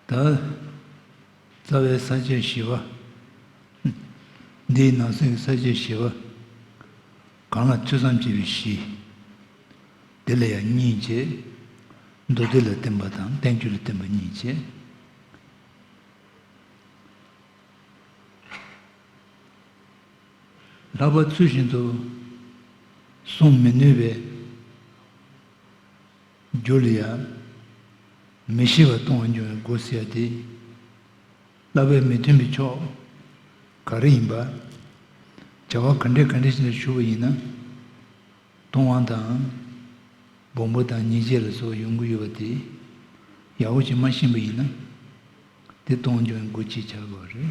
ད་རྩ་བའི་ས་བཅད་བཞི་པ། འདིའི་ནང་གསེས་ཀྱི་ས་བཅད་བཞི་པ། གང་ལ་ཐོས་བསམ་བྱས་པའི་གཞི། དེ་ལ་ཡང་གཉིས་བཅས། མདོ་སྡེ་ལ་བརྟེན་པ་དང་བསྟན་བཅོས་ལ་བརྟེན་པ་གཉིས་བཅས། ལྷག་པར་ཚུལ་བཞིན་དུ་བསྲུང་མི་ནུས་པའི་རྒྱུ་ལ་ཡང་མི་ཤེས་པར་ལྟུང་བ་འབྱུང་བའི་སྒོ་ཟེར་ཏེ། བསླབ་པའི་མི་མཐུན་པའི་ཕྱོགས་ག་རེ་ཡིན་པ། བྱ་བ་ག་འདྲའི་ག་འདྲའི་ཞིག་ལ་ཞུགས་པ་ཡིན་ན། སྟོང་དབང་དང། སྦོམ་པོ་དང་ཉེས་བྱས་ལ་སོགས་ཡོང་གི་ཡོད་པ་དེ་ཡག་པོ་བྱེད་མ་ཤེས་པ་ཡིན་ན། དེ་ལྟུང་འབྱུང་བའི་སྒོ་ཅེས་བྱ་དགོས་པ་རེད།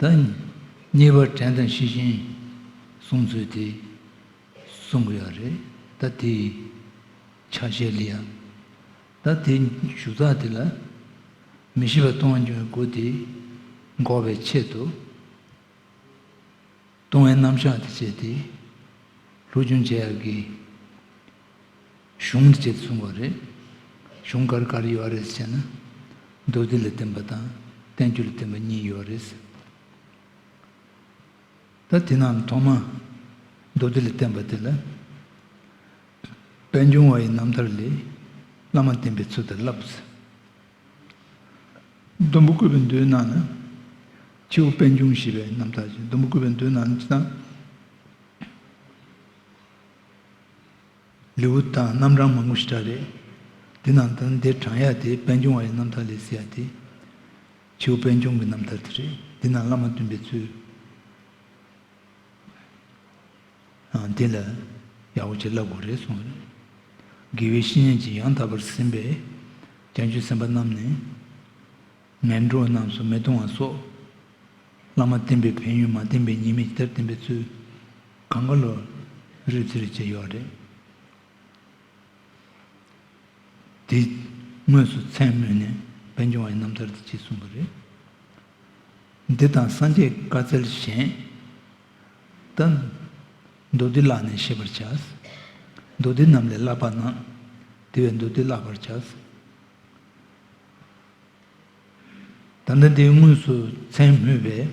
དང། གཉིས་པ་དྲན་དང་ཤེས་བཞིན་བཟུང་ཚུལ་དེ་གསུང་གི་ཡོད་རེད་ད་དེའི་ཆ་ཤས་ལི་ཡང་ད་དེ་ཞུ་ཚགས་དེ་ལ་མི་ཤེས་པ་གཏོང་རྒྱུའི་སྒོ་དེ་འགོག་པའི་ཆེད་དུ། ལྟུང་བའི་རྣམ་གཞག་དེ་བྱས་ཏེ། ལྷོ་རྒྱུན་ཆེ་ཡག་གི་གཞུང་འདི་བྱེད་དུ་གསུངས་པ་རེད། གཞུང་གར་གར་ཡོད་ཨ་རེད་ཟེར་ན། མདོ་སྡེ་ལ་བསྟན་པ་དང་བསྟན་བཅོས་ལ་བསྟན་པ་གཉིས་ཡོད་རེད་ཟེར། ད་དེ་རྣམས་ཐོག་མ་མདོ་སྡེ་ལ་བསྟན་པ་དེ་ལ། པད་འབྱུང་བ་ཡི་རྣམ་ཐར་ལས་བླ་མ་བསྟན་པའི་ཚུལ་དེར་བསླབས། ལྡུམ་བུ་བརྐོས་པའི་མདོའི་ནང་ན་ཁྱེའུ་དཔལ་འབྱུང་ཞེས་པའི་རྣམ་ཐར་གྱིས་ལྡུམ་བུ་བརྐོས་པའི་མདོའི་ནང་ན་ཅི་དང། ལེའུ་སྟག་རྣམ་གྲངས་མང་པོ་ཞིག་གྲགས་རེད། དེ་ནང་དུ་འདིར་བགྲང་ཡ་དེ་དཔལ་འབྱུང་བ་ཡི་རྣམ་ཐར་ལས་གསལ་ཡ་དེ། ཁྱེའུ་དཔལ་འབྱུང་གི་རྣམ་ཐར་དེ་རེད། འདི་ན་བླ་མ་བསྟུན་པའི་ཚུལ། འདི་ལ་ཡག་པོ་བྱེད་སླ་དགོས་རེད་གསུངས་ཡོད། དགེ་བའི་བཤེས་གཉེན་གྱིས་ཡང་དག་པར་ཟིན་པས། རྒྱ་མཆོད་སེམས་དཔའ་རྣམས་ནས། ངན་འགྲོ་རྣམས་སུ་མི་གཏོང་བ་སོགས། བླ་མ་བསྟེན་པའི་ཕན་ཡོན་མ་བསྟེན་པའི་ཉེས་མེད་ཇི་ལྟར་བསྟེན་པའི་ཚུལ། གངས་དཀར་ལོ་རེར་རྩིས་རེ་བྱས་ཡོད་རེད། དེ་དངོས་སུ་མཚན་སྨོས་ནས་དཔལ་འབྱུང་བ་ཡི་རྣམ་ཐར་འདི་གཅིག་གསུངས་པ་རེད། འདི་དང་སངས་རྒྱས་བཀའ་སྩལ་གཞན། དང། མདོ་སྡེ་བཀླགས་ནས་ཤེས་པར་བྱ། མདོ་སྡེ་རྣམས་ལས་བཀླགས་པ་ན། དེ་བས་མདོ་སྡེ་བཀླག་པར་བྱ། ད་ལྟ་འདི་དངོས་སུ་མཚན་སྨོས་པས།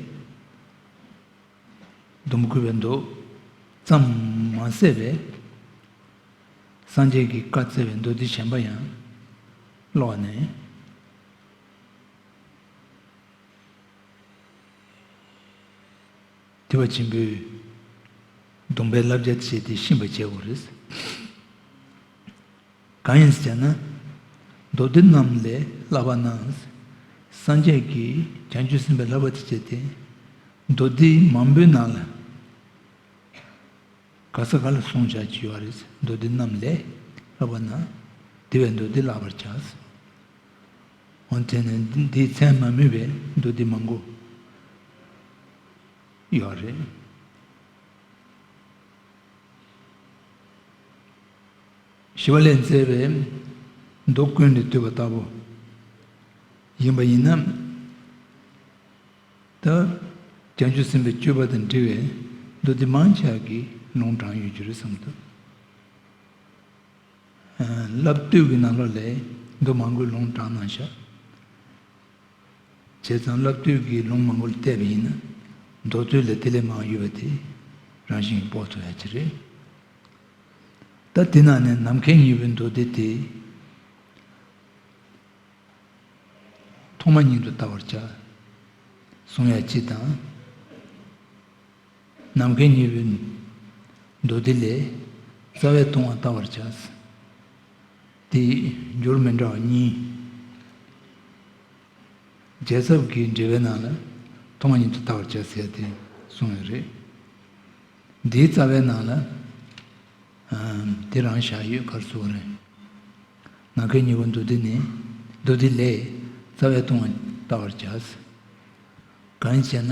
སྡོམ་བསྐུལ་བའི་མདོ། ཙམ་མ་གསལ་བས། སངས་རྒྱས་ཀྱིས་བཀའ་བསྩལ་བའི་མདོ་སྡེ་གཞན་པ་ཡང། ཀློག་ནས། བདེ་བ་ཆེན་པོའི་སྡོམ་པའི་བསླབ་བྱ་བྱས་ཏེ་ཤིན་པར་བྱས་བོ། རེད་གང་ཡིན་ཟེར་ན། མདོ་སྡེ་རྣམས་ལས་བསླབ་པ་ན། སངས་རྒྱས་ཀྱིས་བྱང་ཆུབ་སེམས་དཔའི་བསླབ་པ་དེ་སྤྱད་དེ། མདོ་སྡེ་མང་པོའི་ནང་ལ། ག་ས་ག་ལ་གསུངས་བྱ་བྱེད་བ་རེད། མདོ་སྡེ་རྣམས་ལས་བསླབ་པ་ན། དེ་བས་མདོ་སྡེ་བསླབ་པར་བྱ། འོན་ཏེ་ནི་འདིའི་མཚན་མ་མིན་པའི་མདོ་སྡེ་མང་པོ་ཡོད་རེད། ཞི་བ་ལས་མཛད་པའི་མདོ་ཀུན་ནས་བསྡུས་པ་ལྟ་བུ་ཡིན་པ་ཡིན་ན། ད་བྱང་ཆུབ་སེམས་དཔའི་སྤྱོད་པ་དང་འབྲེལ་བའི་མདོ་སྡེ་མང་ཆགས་ཀྱི་ལུང་དྲངས་ཡོད་རྒྱུ་རེད་བསམ་ཐུབ། བསླབ་བཏུས་ཀྱི་ནང་ལོགས་ལས་འདུག་མང་པོའི་ལུང་དྲངས་གནང་ཤག། བྱས་ཙང་བསླབ་བཏུས་ཀྱི་ལུང་མང་པོ་ལ་བལྟས་པ་ཡིན་ན་མདོ་རྩོད་ལས་དེ་ལས་མང་ཡོད་པ་དེ་རང་བཞིན་གྱིས་དཔོག་ཐུབ་ཡ་ཅི་རེད། ད་དེ་ནང་ནས་ནམ་མཁའི་སྙིང་པོའི་མདོ་སྡེ་དེ་ཐོག་མ་ཉིད་དུ་བལྟ་བར་བྱ། གསུང་ཡ་ཅི་དང། ནམ་མཁའི་སྙིང་པོའི་མདོ་སྡེ་ལས། རྩ་བའི་ལྟུང་བ་བལྟ་བར་བྱ། དེ་ཡི་རྒྱུར་མི་འདྲ་བ་གཉིས། རྒྱལ་ཚབ་ཀྱིས་འགྲེལ་པའི་ནང་ལ། ལྟུང་བ་ཉིད་དུ་བལྟ་བར་བྱ་ཟེར་ཏེ་གསུངས་ཡོད་རེད། འདིའི་རྩ་བའི་ནང་ལ། དེ་རང་བཞག་ཡོད་ཁར་གསུངས་རེད། ནམ་མཁའི་སྙིང་པོའི་མདོ་སྡེ་ནི། མདོ་སྡེ་ལས། རྩ་བའི་ལྟུང་བ་བལྟ་བར་བྱ། གང་ཞེ་ན།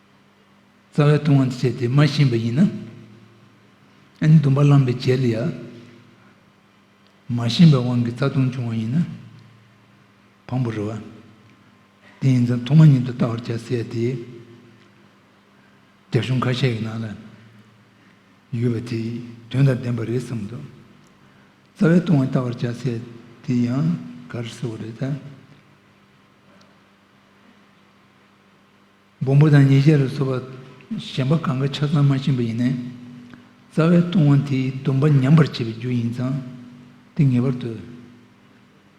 རྩ་བའི་ལྟུང་བ་འདི་བྱས་ཏེ་མ་ཤེས་པ་ཡིན་ན། འདུན་པ་བླངས་པའི་རྗེས་ལ་ཡང། མ་ཤེས་པའི་དབང་གིས་རྩ་ལྟུང་བྱུང་བ་ཡིན་ན། བམ་པོ་རུ། དེ་ཡིན་ཙང་ཐོག་མ་ཉིད་དུ་བལྟ་བར་བྱ་ཟེར་ཏེ། རྒྱ་གཞུང་ཁ་ཤས་ཀྱི་ནང་ལ། ཡོད་པ་དེ་དོན་དང་ལྡན་པ་རེད་བསམ་འདུག། རྩ་བའི་ལྟུང་བ་བལྟ་བར་བྱ་ཟེར་དེ་ཡང་ག་རེ་ཟེར་བ་རེད་ད། སྦོམ་པོ་དང་ཉེས་བྱས་ལ་སོགས་པ་གཞན་པ་གང་གཱའི་ཆ་ཚང་མ་བྱིན་པ་ཡིན་ནས། རྩ་བའི་ལྟུང་བ་དེའི་སྡོམ་པ་ཉམས་པར་བྱེད་པའི་རྒྱུ་ཡིན་ཙང་དེ་ངེས་པར་དུ་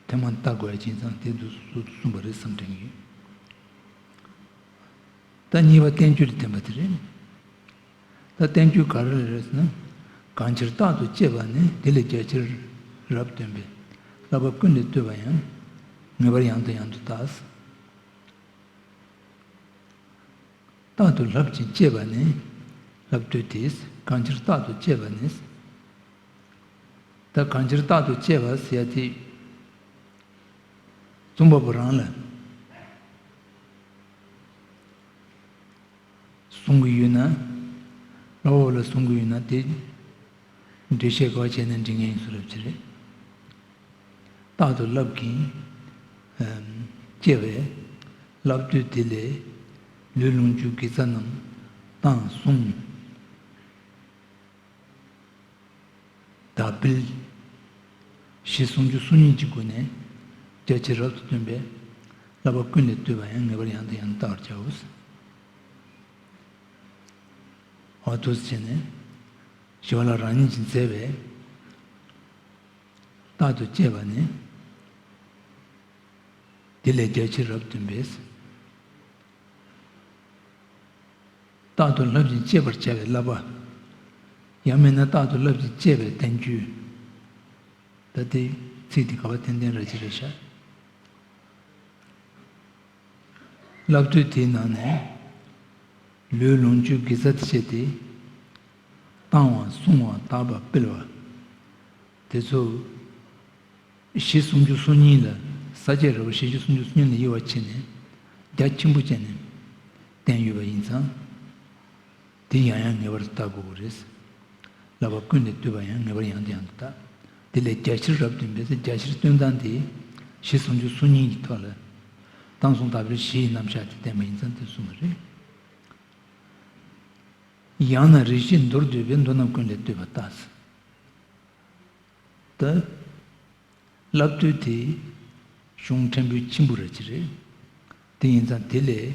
ཐེངས་མང་བརྟག་དགོས་ཡ་བྱིན་ཙང་དེ་འདུག་སོ་གསུངས་པ་རེད་བསམ་དྲན་གྱི་ཡོད། ད་གཉིས་པ་བསྟན་བཅོས་ལ་བརྟེན་པ་དེ་རེད། ད་བསྟན་བཅོས་ག་རེ་ལ་རེད་ཟེར་ན། གང་ཕྱིར་རྟག་ཏུ་གཅེས་པ་ནི་དེ་ལས་རྒྱ་ཆེར་རབ་སྟོན་པས་བསླབ་པ་ཀུན་ལས་བཏུས་པ་ཡང་ངེས་པར་ཡང་དང་ཡང་དུ་བརྟགས། རྟག་ཏུ་ལྷབ་ཅིང་སྤྱད་པ་ནི། ལྷབ་བདུད་དེས་གང་ཕྱིར་རྟག་ཏུ་སྤྱད་པ་ནི། བདག་གང་ཕྱིར་རྟག་ཏུ་སྤྱད་པ་སེ་ཡ་ཏི། འཛུམ་པ་པོ་རང་ལ། བཟུང་གི་ཡོད་ན། བླ་འོག་ལ་བཟུང་གི་ཡོད་ན་དེ། འདུས་བྱས་གོ་བྱེད་ནི་འབྲིང་ངེ་ཡོངས་སུ་རབ་བྱེད་རེད། རྟག་ཏུ་བསླབ་ཀྱིན། སྐྱེ་བས་བསླབ་བཏུས་དེ་ལས། ལུས་རླུང་རྒྱུ་དགེ་རྩ་རྣམས་དང་གསུམ། དག་འབུལ། ཞེས་ཟུང་འཇུག་སོ་གཉིས་ཀྱི་སྒོ་ནས་རྒྱ་ཆེར་རབ་ཏུ་སྟོན་པས། བསླབ་པ་ཀུན་ལས་བཏུས་པ་ཡང་ངེས་པར་ཡང་དང་ཡང་དུ་བལྟ་བར་བྱའོ། བར་དུ་བྱས་ནས། ཞི་བ་ལ་རང་ཉིད་ཀྱིས་མཛད་པའི། རྟག་ཏུ་སྐྱེས་པ་ནི། དེ་ལས་རྒྱལ་ཆེན་རབ་སྟོན་པས། རྟག་ཏུ་བསླབ་ཅིང་སྤྱད་པར་བྱ་བའི་བསླབ་པ། ཡང་མིན་ན་རྟག་ཏུ་བསླབ་ཅིང་སྤྱད་པའི་བསྟན་བཅོས། ད་ལྟའི་ཚིག་འདི་དགའ་བ་ཏན་ཏན་ར་ཅི་ར་ཤ། བསླབ་ཚུལ་དེའི་ནང་ནས། ལུས་ལོངས་སྤྱོད་དགེ་རྩ་བྱས་ཏེ། བཏང་བ་བསྲུང་བ་དག་པར་སྤེལ་བ། དེ་ཚོ། བཞི་སུམ་ཅུ་སོ་གཉིས་ལ་ས་བཅད་ར་བ་བཞི་བཅུ་སུམ་ཅུ་སོ་གཉིས་ལ་དབྱེ་བ་ཕྱེ་ནས། རྒྱ་ཆེན་པོ་བཅས་ནས་བསྟན་ཡོད་པ་ཡིན་ཙང། འདི་ཡང་ཡང་ངེས་པར་བརྟག་དགོས་པ་རེད། ལབ་པ་ཀུན་ནས་བཏུས་པ་ཡང་ངེས་པར་ཡང་དུ་ཡང་དུ་བརྟག། དེ་ལས་རྒྱ་ཆེར་རབ་བཏོན་པའི་ཚེ་རྒྱ་ཆེར་བཏོན་སྟངས་དེ། གཞི་ཟུང་འཇུག་གཟུགས་གཉིས་ཀྱི་ཐོག་ལ། སྟངས་ཟུང་དག་པའི་གཞི་ཡི་རྣམ་གཞག་དེ་བསྟན་པ་ཡིན་ཙང་དེ་གསུངས་པ་རེད། ཡང་ན་རིགས་བཞི་མདོར་བསྡུས་པའི་མདོ་རྣམས་ཀུན་ལས་བཏུས་པ་བརྟགས། ལྟ། ལབ་བཏུས་དེ། གཞུང་ཕྲན་བུའི་ཁྱིམ་བུ་ར་བྱེད་རེད། དེ་ཡིན་ཙང་དེ་ལས།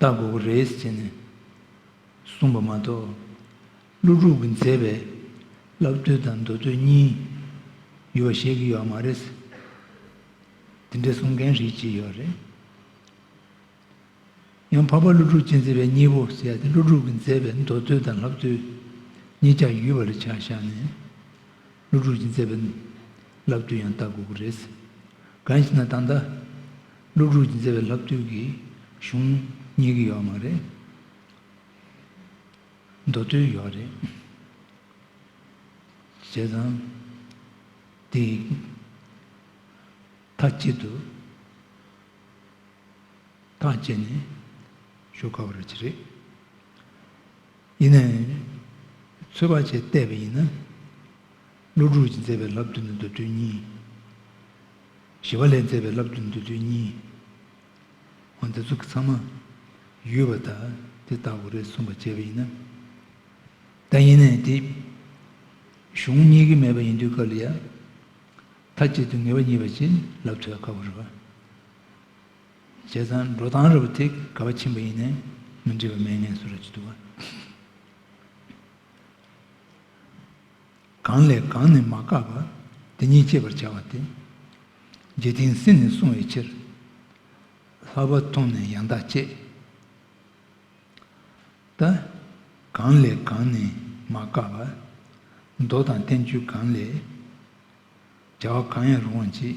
ལྟ་དགོས་ཀྱི་རེད་ཅེས་ནས་གསུངས་པ་མ་གཏོགས། ཀླུ་ཕྲུག་གི་མཛེས་པའི་བསླབ་བསྟོད་དང་མདོ་སྟོད་གཉིས་ཡོད་པ་བཤད་ཀྱི་ཡོད་མ་རེད། དེ་འདྲའི་གསུང་མཁན་ཞིག་ཅི་ཡོད་རེད། ཡང་འཕགས་པ་ཀླུ་ཕྲུག་སྤྱི་མཛེས་པའི་གཉིས་པོ་ཟེར་ཡ་དེ་ཀླུ་ཕྲུག་གི་མཛེས་པའི་མདོ་སྟོད་དང་བསླབ་བསྟོད་གཉིས་ཀྱང་ཡུལ་བ་ལ་ཆ་བཞག་ནས། སློབ་ཕྲུག་ཅིག་མཛད་པའི་ལབ་བཏུས་ཡང་བལྟ་དགོས་ཀྱི་རེད། གང་ཞེ་ན་ད་ལྟ་སློབ་ཕྲུག་ཅིག་མཛད་པའི་ལབ་བཏུས་ཀྱི་གཞུང་རྙེད་ཀྱི་ཡོད་མ་རེད། མདོ་སྟོད་ཡོད་རེད། བྱས་ཙང་དེ་ཡི་མཐའ་དཀྱིལ་དུ་ཐག་བཅད་ནས་ཞུ་དཀའ་བ་རེད། ཡིན་ནའི། ཚོད་དཔག་བྱས་བལྟས་པ་ཡིན་ན། ཀླུ་སྒྲུབ་ཀྱིས་མཛད་པའི་བསླབ་བསྡུ་ནི་མདོ་བསྡུས་གཉིས། ཞི་བ་ལས་མཛད་པའི་བསླབ་བསྡུ་མདོ་བསྡུས་གཉིས། འོ་འདི་ཚོ་ཚང་མ། ཡུལ་བ་དག་འདི་ལྟ་བུ་རེད་གསུངས་པ་བྱས་པ་ཡིན་ན། ད་ཡིན་ནའི་དེ། གཞུང་གཉིས་ཀྱི་མེད་པ་ཡིན་དུས་སྐབས་ལ་ཡ། མཐའ་གཅིག་ཏུ་ངེས་པ་གཉིས་པ་བྱིན་བརླབས་ཐོད་དཀར་པོ་རེད་བ། བྱས་ཙང་འགྲོ་སྟངས་རེ་བ་དེ་ག་བ་ཕྱིན་པ་ཡིན་ནས་མི་འདྲི་བ་མེད་ངེས་སུ་རེ་བྱེད་འདུག་བ། གང་ལས་གང་ནས་མ་བཀག་པ་དེ་ཉིད་སྤྱད་པར་བྱ་བ་སྟེ། རྗེ་དིང་སེ་ནས་གསུངས་བའི་ཕྱིར། ལྷག་པར་མཐོང་ནས་ཡང་དག་སྤྱད་དེ། གང་ལས་གང་ནས་མ་བཀག་པ། མདོ་དང་བསྟན་བཅོས་གང་ལས། བྱ་བ་གང་ཡང་རུང་བར་བྱེད།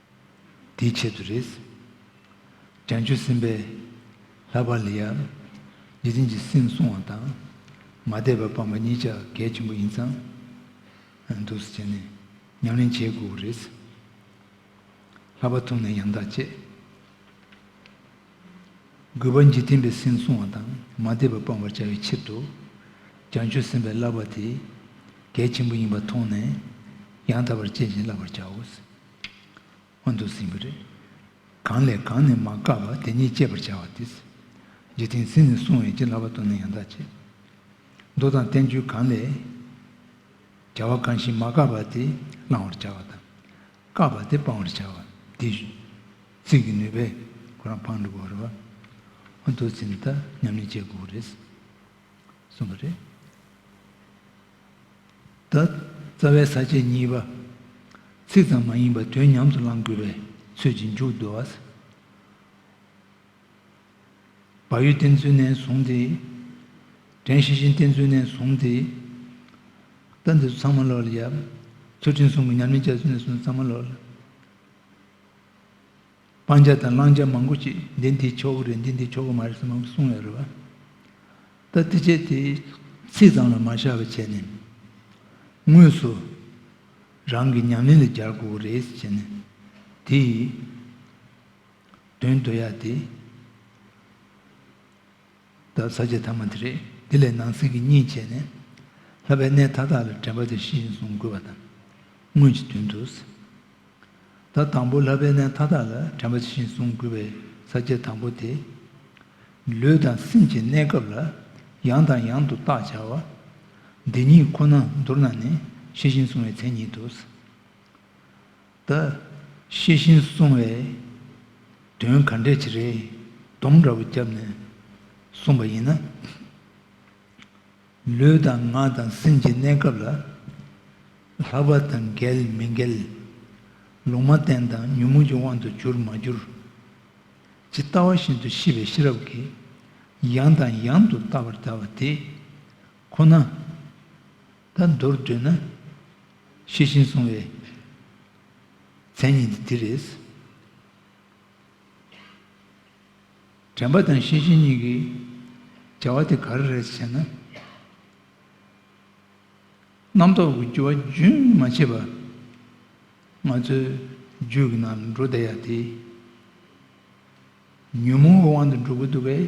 དེའི་ཆེད་དུ་རེད། བྱང་ཆུབ་སེམས་དཔའི་ལྷག་པར་ལ་ཡང། འཇིག་རྟེན་གྱི་སེམས་བསྲུང་བ་དང། མ་དད་པ་སྤངས་པ་གཉིས་ཆ་གལ་ཆེན་པོ་ཡིན་ཙང། འདུ་བྱེད་ནས་ཉམས་ལེན་བྱེད་དགོས་པ་རེད། ལྷག་པར་ཐུགས་ནས་ཡང་དག་སྤྱད་དགོས་པ་འཇིག་རྟེན་པའི་སེམས་བསྲུང་བ་དང་མ་དད་པ་སྤང་བར་བྱ་བའི་ཕྱིར་དུ། བྱང་ཆུབ་སེམས་དཔའི་ལྷག་པ་དེ་གལ་ཆེན་པོ་ཡིན་པ་མཐོང་ནས། ཡང་དག་པར་སྤྱད་ཅིང་བསླབ་པར་བྱའོ། སྔོན་དུ་ཟིན་པ་རེད། གང་ལས་གང་ནས་མ་བཀག་པར་དེ་ཉིད་སྤྱད་པར་བྱ་བ་དེ། འཇིག་རྟེན་ཟིན་ནས་སྲུང་བའི་བྱིན་རླབས་པ་དུ་ནི་ཡང་དག་བྱེད། མདོ་དང་བསྟན་བཅོས་གང་ལས། བྱ་བ་གང་ཞིག་མ་བཀག་པར་དེ་བླང་བར་བྱ་བ་དང། བཀག་པར་དེ་སྤང་བར་བྱ་བ་དེ། ཚིག་གི་ནུས་པས་ཁོ་རང་འཕང་འགྲུབ་བར་རོ། སྔོན་དུ་ཟིན་ལྟར་ཉམས་ལེན་བྱེད་དགོས་རེད། གསུངས་པ་རེད། ད། རྩ་བའི་ས་བཅད་གཉིས་པ། ཚིག་ཙམ་མ་ཡིན་པར་དོན་ཉམས་སུ་བླང་དགོས་པའི་ཚུལ་གྱིས་མཇུག་བསྡུ་བ། བག་ཡོད་བསྟེན་ཚུལ་ནས་བཟུང་སྟེ། དྲན་ཤེས་བཞིན་བསྟེན་ཚུལ་ནས་བཟུང་སྟེ། ལྟ་འདི་ཚོ་ཚང་མ་ལོག་ལ་ཡབ། ཚུལ་ཁྲིམས་སྲུང་གི་ཉམས་ལེན་བྱ་ཚུལ་ནས་བཟུང་སྟེ་ཚང་མ་ལོག་ལ། སྤང་བྱ་དང་བླང་བྱ་མང་པོ་ཅིག་འདི་འདིའི་ཆོ་ག་རེད་འདི་འདིའི་ཆོ་ག་མ་རེད་ཟེར་མང་པོ་གསུང་ཡོད་རེད་བ། ད་དེ་བྱས་དེ་ཚིག་ཙམ་ལ་མ་བཞག་པར་བྱས་ནས། དངོས་སུ་རང་གི་ཉམས་ལེན་ལ་སྦྱར་དགོས་པ་རེད་ཟེར་བྱས་ནས། དེ་ཡི་དོན་བསྡུ་ཡག་དེ། བདག་ཟ་བྱེད་ཐ་མ་དེ་རེད། དེ་ལས་ནང་གསེས་ཀྱི་གཉིས་བྱས་ནས། ལྷ་བའི་གནས་མཐའ་དག་ལ་དྲན་པ་དེ་བཞིན་བཟུང་དགོས་པ་དང། དངོས་ཀྱི་དོན་དུ། བདག་དང་པོ་ལྷ་བའི་གནས་མཐའ་དག་ལ་དྲན་པ་དེ་བཞིན་བཟུང་དགོས་པའི་ཟ་བྱེད་དང་པོ་དེ། ལུས་དང་སེམས་ཀྱི་གནས་སྐབས་ལ་ཡང་དང་ཡང་དུ་བརྟག་བྱ་བ། འདི་ཉིད་ཁོ་ན་མདོར་ན་ནི་ཤེས་བཞིན་བཟུང་བའི་མཚན་ཉིད་དུ། ད་ཤེས་ཤིང་གསུང་བས། དོན་ག་འདྲས་ཆེ་རེད་དོམ་འདྲ་བོ་བརྒྱབ་ནས་གསུངས་པ་ཡིན་ན། ལུས་དང་ངག་དང་སེམས་ཀྱི་གནས་སྐབས་ལ། ལྷག་པ་དང་འགལ་མི་འགལ། ལུང་མ་བསྟན་དང་ཉོན་མོངས་ཀྱི་དབང་དུ་གྱུར་མ་གྱུར། ཇི་ལྟ་བ་བཞིན་དུ་ཤེས་པའི་ཤེས་རབ་ཀྱིས་ཡང་དང་ཡང་དུ་བལྟ་བར་བྱ་བ་དེ་ཁོ་ན། ད་མདོར་བསྡུ་ན་ཤེས་བཞིན་སོང་བའི་མཚན་ཉིད་འདི་འདི་རེད། དྲན་པ་དང་ཤེས་བཞིན་གཉིས་ཀྱི་བྱ་བ་དེ་ག་རེ་རེད་ཟེར་ན། རྣམ་རྟོག་གི་རྒྱུ་བ་རྒྱུན་མ་ཆད་པ་ང་ཚོའི་རྒྱུད་ཀྱི་ནང་ལ་འགྲོ་བསྡད་ཡ་དེ་ཉོན་མོངས་པའི་དབང་དུ་འགྲོ་གི་འདུག་པས།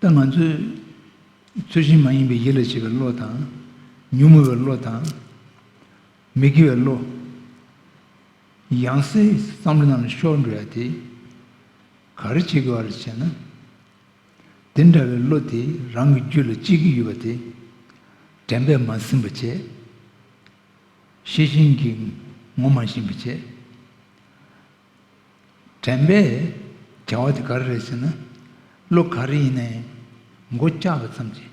ད་ང་ཚོས་ཚུལ་བཞིན་མ་ཡིན་པའི་ཡིད་ལ་བྱེད་པའི་བློ་དང། ཉུང་ངུ་བའི་བློ་དང། མི་དགེ་བའི་བློ། ཡང་སྲིད་བསམ་བློ་རྣམས་ལ་ཤོར་འགྲོ་ཡ་དེ། ག་རེ་བྱེད་དགོས་ར་བྱས་ན། དེ་འདྲ་བའི་བློ་དེ་རང་གི་རྒྱུད་ལ་གཅིག་གི་ཡོད་པ་དེ། དྲན་པས་མ་ཟིན་པ་བྱས། ཤེས་བཞིན་གྱིས་ངོ་མ་ཤེས་པ་བྱས། དྲན་པས་བྱ་བ་དེ་ག་རེ་རེད་ཟེར་ན། གློ་ག་རེ་ཡིན་ན་ཡང་མགོ་བཀྱགས་པ་ཙམ་གྱིས།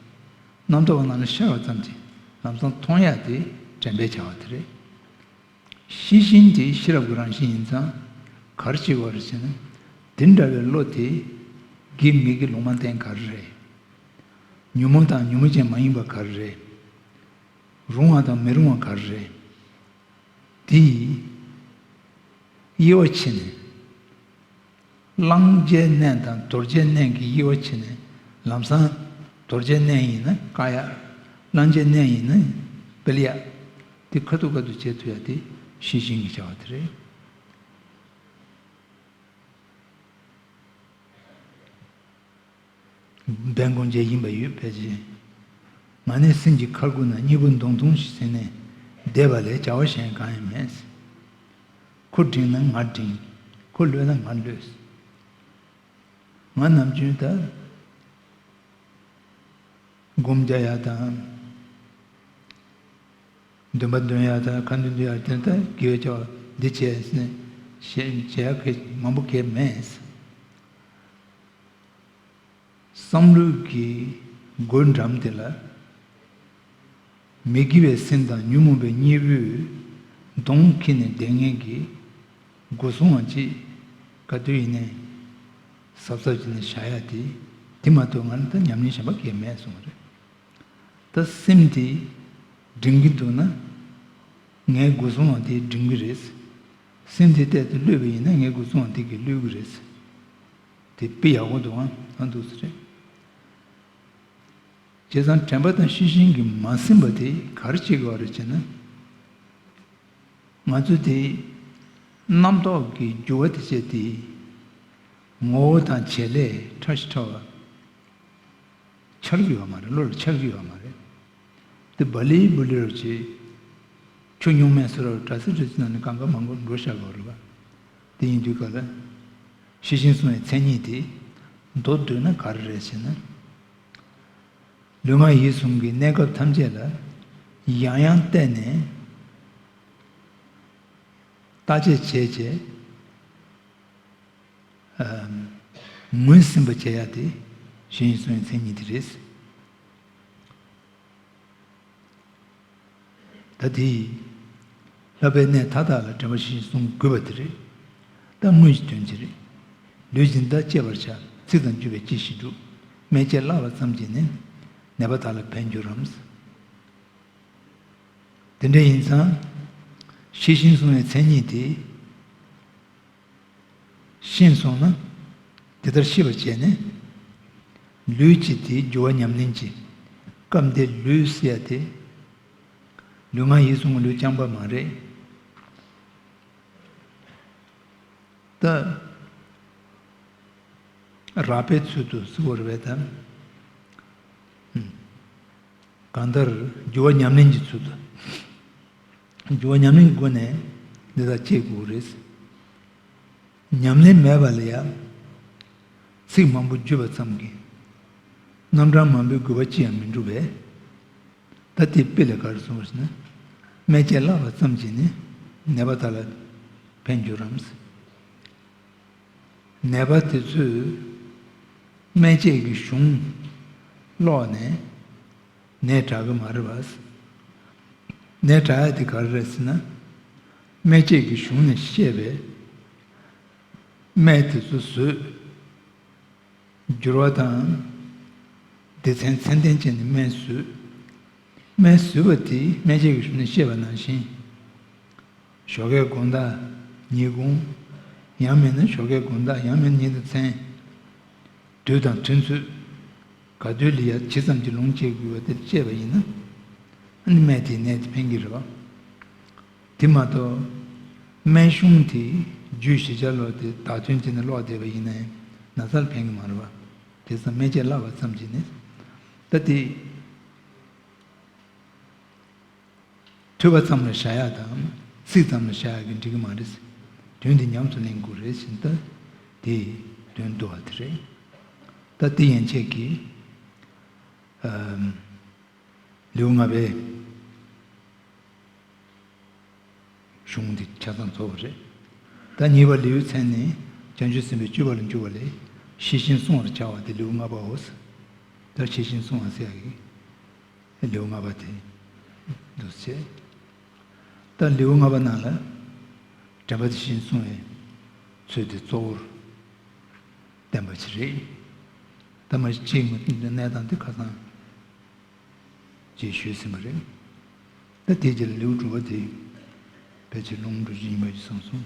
རྣམ་རྟོག་རྣམས་ལ་ཤར་བ་ཙམ་གྱིས་ལམ་སང་མཐོང་ཡ་དེ་དྲན་པས་བྱ་བ་དེ་རེད། ཤེས་བཞིན་དེ་ཤེས་རབ་ཀྱི་རང་བཞིན་ཡིན་ཙང་ག་རེ་བྱེད་དགོས་རེད་ཟེར་ན། དེ་འདྲ་བའི་བློ་དེ་དགེ་མི་དགེ་ལུང་མ་བསྟན་ག་རེ་རེད། ཉོན་མོངས་དང་ཉོན་མོངས་ཅན་མ་ཡིན་པ་ག་རེ་རེད། རུང་བ་དང་མི་རུང་བ་ག་རེ་རེད། འདི་ཡིས་དབྱེ་བ་ཕྱེ་ནས། གླང་རྒྱལ་གནས་དང་རྡོ་རྗེ་གནས་ཀྱི་དབྱེ་བ་ཕྱེ་ནས་ལམ་སྲང། རྡོ་རྗེ་གནས་ཡིན་ན་ཀ་ཡག། གླང་རྒྱལ་གནས་ཡིན་ན་པིར་ཡག། འདི་ཁ་ཐུ་ཁ་ཐུ་བྱེད་ཐུ་ཡག་འདི་ཤི་ཅིང་གི་བྱ་བ་དེ་རེད། བན་གོང་རྗེ་ཡིན་པ་ཡོད་པས་རྗེ། མ་ནི་སེམས་ཀྱི་ཁར་ཁུར་ན་སྙིད་པོ་མདོང་ཐུང་ཞིག་ཟིན་ནས་བསྡད་པ་ལས་བྱ་བ་གཞན་གང་ཡང་མེད། ཁོ་བྲིང་ན་ང་བྲིང། ཁོ་གློད་ན་ང་གློད། ང་ནམ་རྒྱུན་ད། སྒོམ་རྒྱག་ཡག་དང། འདོན་པ་འདོན་ཡག་དང་ཁ་འདོན་འདོན་ཡག་དེ་ལྟར་དགེ་བའི་བྱ་བ་འདི་བྱས་ཟིན། ཞེས་བྱ་ཡག་གི་མང་པོ་གས་མེད། བསམ་བློའི་སྒོའི་འགྲམ་དེ་ལ། མི་དགེ་བའི་སེམས་དང་ཉོན་མོངས་པའི་གཉིས་པོའི་གདོང་ཁེངས་ནས་བདེན་ངན་གྱི་སྒོ་སྲུང་བ་གཅིག་ག་དུས་ཡིན་ནའི་གཟབ་གཟབ་བྱས་ནས་བཞག་ཡ་དེ་དེ་མ་གཏོགས་ང་ལ་ད་ཉམས་ལེན་གཞན་པ་གས་མེད་སོང་བ་རེད། ད་སེམས་དེ་འགྲིམ་གྱི་འདུག་ན། ངའི་སྒོ་སྲུང་བ་དེ་འགྲིམ་གྱི་རེད། སེམས་དེ་གཏད་དུ་གློད་པ་ཡིན་ན་ངའི་སྒོ་སྲུང་བ་དེ་གས་གློད་གི་རེད། དེ་དཔེ་ཡག་པོ་འདུག་ཨང་འདུག་ས་རེད། བྱས་ཙང་དྲན་པ་དང་ཤེས་བཞིན་གྱི་མ་ཟིན་པ་དེ་ག་རེ་བྱེད་དགོས་པ་རེད་ཅེ་ན། ང་ཚོས་དེ་རྣམ་རྟོག་གི་རྒྱུ་བ་དེ་སྤྱད་དེ། ངོ་བོ་དང་བྱེད་ལས་ཕྲ་ཞིང་ཕྲ་བ། འཆར་གྱི་ཡོད་མ་རེད་བློ་ལ་འཆར་གྱི་ཡོད་མ་རེད། དེ་བ་ལི་བུ་ལི་རུ་བྱེད། ཁྱོད་གཉུག་མའི་ཟེར་བ་རུ་གྲ་སེ་རི་སི་ན་ནས་གང་ག་མང་པོ་འགྲོ་བཞག་དགོས་རེད་བ། དེ་ཡིན་དུས་ག་ལ། ཤེས་བཞིན་སོང་བའི་མཚན་ཉིད་དེ། མདོར་བསྡུ་ན་ག་རེ་རེད་ཟེར་ན། ལུས་ངག་ཡིད་གསུམ་གྱི་གནས་སྐབས་ཐམས་ཅད་ལ་ཡང་ཡང་བལྟས་ནས། བརྟག་དཔྱད་བྱས་བྱས། ངོས་ཟིན་པ་བྱེད་ཡག་དེ། ཤེས་བཞིན་སོང་བའི་མཚན་ཉིད་དེ་རེད། ད་དེ་ཡིས། ལྷག་པའི་གནས་མཐའ་དག་ལ་དྲན་པ་བཞིན་བཟུང་དགོས་པ་དེ་རེད། ད་སྔོན་གྱི་དོན་ཅི་རེད། ལུས་སྦྱིན་བདག་གཅེས་པར་བྱ། ཚིག་དང་བརྒྱུད་པའི་སྐྱེ་ཤི་འགྲུབ། སྨན་དཔྱད་བརླག་པ་ཙམ་གྱིས་ནི། ནད་པ་དག་ལ་ཕན་འགྱུར་རམ། དེ་འདྲ་ཡིན་ཙང། ཤེས་བཞིན་བཟུང་བའི་མཚན་ཉིད་དེ། ཤེས་སོང་ན། དེ་ལྟར་ཤེས་པར་བྱས་ནས། ལུས་ཀྱི་དེའི་རྒྱུ་བ་ཉམས་ལེན་གྱི་སྐབས་འདིར་ལུས་བསལ་ཏེ། ལུས་ངག་ཡིད་གསུམ་གྱི་ལུས་རྐྱང་པ་མ་རེད་དེ། རགས་པའི་ཚུལ་དུ་གཟིགས་བར་བས་དང། གང་ལྟར་རྒྱུ་བ་ཉམས་ལེན་གྱི་ཚུལ་དུ། འགྱུར་བ་ཉམས་ལེན་གྱི་སྒོ་ནས་འདི་དག་བསྐྱེད་དགོས་པ་རེད། ཉམས་ལེན་མེད་པ་ལ་ཡང་ཚིག་མང་པོ་བརྗོད་པ་ཙམ་གྱིས་རྣམ་གྲངས་མང་པོའི་དགོས་པ་ཅི་ཡང་མི་འགྲུབ་པས། ད་དེའི་དཔེ་ལས་ག་རེ་གསུང་བ་ཞེ་ན། སྨན་དཔྱད་བརླགས་པ་ཙམ་གྱིས་ནི་ནད་པ་དག་ལ་ཕན་འགྱུར་རམ། ནད་པ་དེ་ཚོས་སྨན་དཔྱད་ཀྱི་གཞུང་ཀློག་ནས། ནས་དྲག་གི་མ་རེད་བ། ནས་དྲག་ཡ་དེ་ག་རེ་རེད་ཟེར་ན། སྨད་བཅད་ཀྱི་གཞུང་ནས་བཤད་པའི། སྨད་དེ་ཚོ་བཟོས། བསྒྱུར་བ་དང། སྡེ་ཚན་ཚན་ལྡན་བྱས་ནས་སྨད་བཟོས། སྨད་བཟོས་པ་དེ་སྨད་བཅད་ཀྱི་གཞུང་ནས་བཤད་པ་ནང་བཞིན། ཞོགས་ཀའི་དགོངས་དག་ཉིད་དགོངས། ཡང་མིན་ན་ཞོགས་ཀའི་དགོངས་དག་ཡང་མིན་ན་ཉིད་དང་མཚན། དུས་དང་མཐུན་ཚུལ། ག་དུས་ལ་ཡར་ཇི་ཙམ་གྱིས་ལོངས་སྤྱད་དགོས་པ་དེར་དཔྱད་པ་ཡིན་ན། ནི་སྨན་དེའི་ནད་དེ་ཕན་གྱི་རེད་བ། དེ་མ་གཏོགས། སྨན་གཞུང་དེས་རྒྱུད་བཞི་ཆ་ལོག་སྟེ་དག་དོན་སྤྱད་ནས་ལོག་བསྡད་པ་ཡིན་ནའི་ན་ཚར་ཕན་གྱི་མ་རེད་བ། དེ་ཙམ་སྨན་དཔྱད་སླ་བ་ཙམ་གྱིས་ནི། ད་དེ། ཐོས་པ་ཙམ་ལ་བྱ་ཡག་དང། ཚིག་ཙམ་ལ་བྱ་ཡག་གི་འགྲིག་གི་མ་རེད། དོན་དེ་ཉམས་སུ་ལེན་དགོས་རེད་བཞིན་ལྟ་དེ། དོན་བསྡུ་བ་དེ་རེད། ལྟ་དེ་ཡན་ཆད་ཀྱི། ལེའུ་ལྔ་པའི། གཞུང་འདི་ཆ་ཚང་རྫོགས་པ་རེད། ལྟ་གཉིས་པ་ལེའུའི་མཚན་ནི། བྱང་ཆུབ་སེམས་དཔའི་སྤྱོད་པ་ལ་འགྱུར་བ་ལས། ཤེས་བཞིན་བསྲུང་བར་བྱ་བ་དེ་ལེའུ་ལྔ་པའོ། ལྟ་ཤེས་བཞིན་བསྲུང་བ་སེམས་དཔའི། ལེའུ་ལྔ་པ་དེ་འདུ་བྱས། ལྟར་ལེའུ་ལྔ་པ་རྣམས་ལ་དྲན་པ་དེ་བཞིན་བསྲུང་བའི་ཚུལ་དེ་གཙོ་བོར་བསྟན་པ་ཞིག་རེད། ཐ་མ་གཅིག་མི་མཐུན་པའི་གནས་དང་དེ་ཁ་ཚང་ཅེས་ཞུས་ཟིན་པ་རེད། ད་ཐེངས་ཀྱི་ལེའུ་དྲུག་པ་དེ་ཕལ་ཆེར་ལུང་འགྲོ་རྗེས་ཉི་མ་ཡི་གསུང་སོང།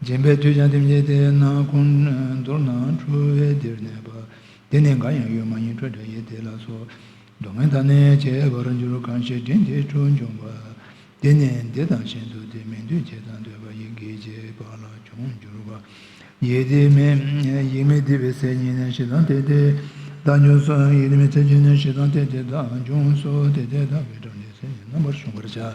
སྦྱིན་པའི་དུས་ཀྱང་དེ་བཞིན་ཏེ། ནང་ཁོང་མདོར་ན་འཁྲུལ་བས་འདིར་གནས་པ། དེ་ནི་འགའ་ཡང་ཡོད་མ་ཡིན་སྤྲོས་བྲལ་ཡིད་བདེ་ལ་སོགས། སྡུག་བསྔལ་དང་ནི་བཅས་པར་འགྱུར་གང་ཞིག་དྲིན་དེའི་འཁྲུལ་འབྱུང་བ། དེ་ནི་འདི་དང་གཞན་དུ་དེ་མིན་འདུས་བྱས་དང་འདོད་པ་ཡི་གེ་བརྒྱད་པ་ལ་འབྱུང་འགྱུར་བ། ཡིད་བདེ་མིན། ཡིད་མི་བདེ་བའི་ཚད་ཉིད་ནི་ཞེ་སྡང་དེ་དེས་བདག་འབྱུང་སོ། ཡིད་བདེ་མིན་ཚད་ཀྱི་ནི་ཞེ་སྡང་དེ་དེས་བདག་འབྱུང་སོ། དེ་དེས་བདག་གི་གྲངས་ཀྱི་ཚད་ནི་རྣམ་པར་གཞོམ་པར་བྱ།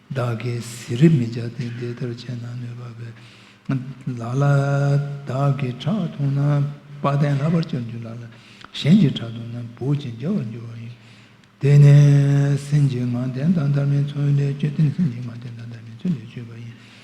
བདག་གིས་གཟི་རིབ་མི་བྱ་སྟེ་འདི་ལྟར་བྱས་ན་ནུས་པ་བས་ལ་ལ། བདག་གིས་ཁྲག་འཐུང་ན་དཔའ་གདན་ལྷག་པར་བཅོམ་གྱིས་ལ་ལ། གཞན་གྱིས་ཁྲག་འཐུང་ན་བུག་ཅིང་འཇའ་བར་འགྱུར་བ་ཡིན། དེ་ནས་སེམས་ཀྱི་ངང་ལྡན་དང་ལྟར་མིན་ཚུལ་ལས་བཅོས་ཏེ་སེམས་ཀྱི་ངང་ལྡན་དང་ལྟར་མིན་ཚུལ་ལས་བཅོས་པ་ཡིན།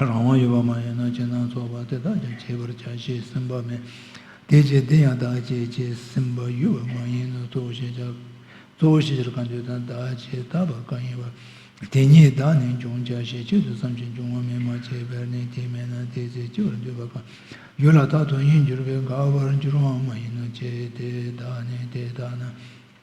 རང་དབང་ཡོད་པ་མ་ཡིན་ན་སྤྱི་སྣང་ཚོགས་པ་དེ་དག་ཀྱང་བྱེད་པར་བྱ་ཞེས་སེམས་པ་མེད། དེ་བྱེད་འདི་ཡང་བདག་བྱེད་ཅེས་སེམས་པ་ཡོད་པ་མ་ཡིན་ནོ་གཙོ་བོ་ཤེས་བྱ། གཙོ་བོ་ཤེས་བྱར་བཀའ་འདུས་དང་བདག་བྱེད་ད་བར་བཀའ་ཡིན་པ། དེ་ཉིད་བདག་ནི་འབྱུང་བྱ་ཞེས་ཆེད་དུ་བསམ་ཞིང་འབྱུང་བ་མེད་མ་བྱས་པས་ནི་དེ་མེད་ན་དེའི་ཚེ་སྐྱེ་བར་འདོད་པ་གང་ཡོད་ལ་དག་དོན་ཡིན་གྱུར་པས་འགག་པར་འགྱུར་བའང་མ་ཡིན་ནོ་ཅེས་དེ་དག་ནི་དེ་ལྟ་ན།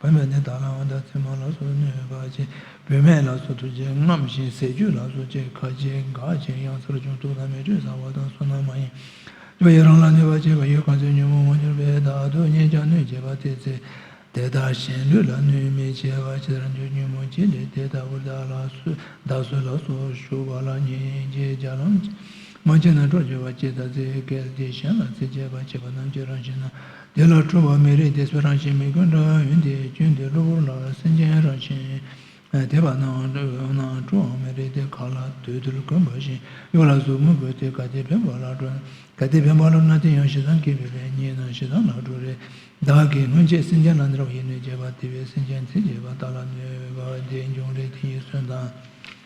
བུད་མེད་དེ་དག་ལ་འོ་ད་ཚེ་མ་ལ་སོགས་གནོད་པ་ཅན་བུད་མེད་ལ་སོགས་ཐུགས་རྗེ་རྔམ་ཞིང་ཟས་བཅུད་ལ་སོགས་བཅས་ཁ་ཆེ་འགག་ཆེན་གཡང་སར་ཆུང་དུག་དང་མེ་དྲོད་ཟ་བ་དང་སོ་ནམ་མ་ཡིན་སྐྱོ་ཡི་རང་ལ་གནོད་པ་བྱེད་པ་ཡོད་གང་ཚེ་ཉོན་མོངས་མ་གྱུར་པས་བདག་སྡུག་བསྔལ་ཀྱང་གནོད་བྱེད་པ་སྟེ་ཚེ་དེ་དག་གཞན་ལུས་ལ་གནོད་མི་བྱེད་པ་ཇི་ལྟར་འདོད་ཉོན་མོངས་ཅན་ལས་དེ་ལྟ་བུར་བདག་ལ་བདག་སུ་ལ་སོགས་ཞུགས་པ་ལ་སྙིང་རྗེ་བརྒྱ་ལམ་གྱིས་མ་བྱས་ན་གྲོགས་བྱེད་པ་སྐྱེད་དང་རྩེ་སྐལ་དེ་གཞན་ལ་རྩེ་སྐྱེད་པར་བྱེད་པ་རྣམས་ཀྱི་རང་བཞིན་ན། དེ་ལ་ཁྲོ་བ་མི་རིགས་དེ་ཚོའི་རང་བཞིན་མི་ཀུན་འདྲ་བ་ཡིན་ཏེ་སྐྱོན་དེ་གློ་བུར་ལ་སེམས་ཅན་རང་བཞིན། དེ་བར་སྣང་བ་འདྲ་བའི་འོད་སྣང་ཁྲོ་བ་མི་རིགས་དེ་ག་ལ་དུས་དེར་གོན་པ་བཞིན་གཡོ་ལ་གཟུགས་མི་དགོས་ཏེ་ག་དེ་འཕེན་པ་ལ་འགྲོ། ག་དེ་འཕེན་པ་ལ་ན་དེ་ཡང་ཞེ་སྡང་སྐྱེད་པའི་ལས་ཉིད་ན་ཞེ་སྡང་ལ་འགྲོ་རེ། བདག་གིས་སྔོན་ཆད་སེམས་ཅན་ལ་འདྲ་བ་ཡིན་ནོ་སྐྱེས་པ་དེ་བས་སེམས་ཅན་ཚེ་སྐྱེས་པ་དག་ལ་ནུས་པ་དེ་འབྱུང་རེ་དེ་ཡི་གསོན་དང།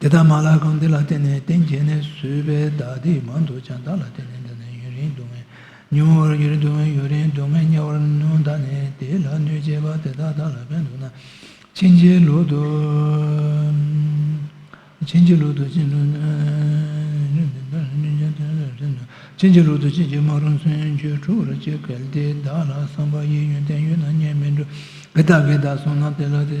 དེ་ལྟར་མ་ལག་གང་དེ་ལ་བརྟེན་ནས་གཏན་འཁེལ་ནས་བཟོས་པའི་བདག་སྡིག་མང་དུ་བྱ་བདག་ལ་བརྟེན་ནས་འདི་ནི་ཡུན་རིང་སྡུག་བསྔལ་མྱོང་བར་གྱུར་སྡུག་བསྔལ་ཡུན་རིང་སྡུག་བསྔལ་དམྱལ་བར་མྱོང་ད་ནི་དེ་ལ་གནོད་བྱེད་པ་དེ་དག་བདག་ལ་ཕན་འདོགས་ན་ཕྱིན་ཅི་ལོག་ཏུ་ཕྱིན་ཅི་ལོག་ཏུ་ཕྱིན་ཅི་ལོག་ཏུ་ཕྱིན་ཅི་མ་རུང་ཚུལ་འཆོས་འཁྲུག་ར་བྱེད་གལ་ཏེ་བདག་ལ་བསམ་པ་ཡི་ཡོན་ཏན་ཡོད་ན་གཉེན་མི་འགྲོ་གི་བདག་གིས་བདག་བཟུང་ན་དེ་ལ་དེ་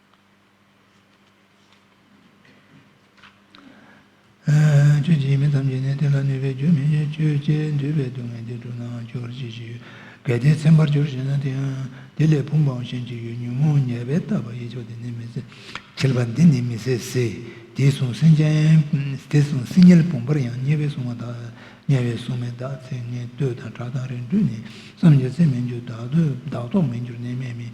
ཁྱོད་ཀྱི་མི་ཐམས་ཅད་ནི་དེ་ལ་གནོད་པའི་རྒྱུ་མི་བྱེད། ཁྱོད་ཀྱི་འདོད་པའི་སྡུག་བསྔལ་འདི་གྲུབ་ནའང་གྱུར་ཅིག་ཅེས་ཡོད། གལ་ཏེ་ཚིམ་པར་གྱུར་ཞེ་ན་དེའང་དེ་ལས་བུམ་པའང་གཞན་གྱི་ཡུལ་ཉོན་མོངས་ཉེས་པས་བཏབ་པ་ཡི་ཕྱོགས་དེ་ནི་མི་ཟད། བྱེད་པ་འདི་ནི་མི་ཟད་ཟེར། དེས་གཟུང་སེམས་ཅན། དེས་གཟུང་སེམས་ཉལ་བུམ་པར་ཡང་ཉལ་བས་བསྲུང་བ་དག། ཉལ་བས་བསྲུང་མི་དག་ཚིག་ངན་ལྟོས་དང་གྲགས་དང་རིགས་འཕྲུལ་ནི། བསམ་གྱིས་ཚིམ་མི་འགྱུར་བདག་རྟོག་མི་འགྱུར་གནས་མལ་མིན།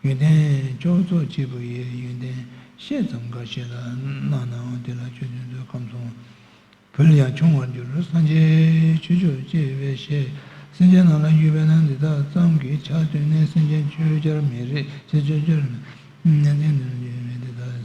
ཡོན་ཏན་ཅོག་རྫོགས་སྐྱེས་བུ་ཡི་ཡོན་ཏན་བཤད་ཙམ་འགའ་ཞིག་ལ་གནང་ནའང་དེ་ལ་ཆོས་བདུན་ཚོད་ཁམས་སོང་བུལ་ཡང་ཆུང་བར་འགྱུར་སངས་རྒྱས་ཆོས་མཆོག་ཅེས་པའི་ཞལ་སེམས་ཅན་རྣམས་ལ་བཞུགས་པས་ན་འདི་དག་ཙམ་གྱིས་ཆ་མཐུན་ནས་སེམས་ཅན་ཆོས་བྱར་མི་རིགས་ཅེས་བརྗོད་རྒྱུར་ནན་ཏན་ཏན་དུ་བརྗོད་པས་འདི་དག།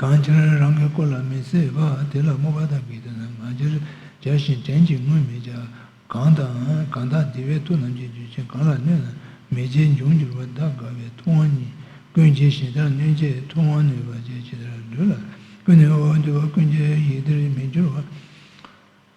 གང་ཕྱིར་རང་གི་སྐུ་ལ་མི་བརྩི་བ་དེ་ལ་བསྔོ་བ་དང་དགེ་འདུན་རྣམས་ང་ཅིར་བྱ་ཞིང་བྲན་གྱིས་བསྔོས་མི་བྱ། གང་དང། གང་དག་འདི་བས་ཐུགས་རྣམ་ཀྱི་རྒྱུད་ཆེན་གང་ལ་གནོད་ན་མི་བྱེད་འབྱུང་འགྱུར་བ་དག་དགའ་བའི་ཐུབ་དབང་ཉིད་ཀུན་གྱི་གཞི་དང་གནོད་བྱེད་ཐུབ་དབང་ནུས་པ་ཅན་ཇི་ལྟར་བསྡུས་ལ་ཀུན་ནས་འོག་འདུས་པ་ཀུན་གྱི་ཡིད་བདེར་མི་འགྱུར་བ།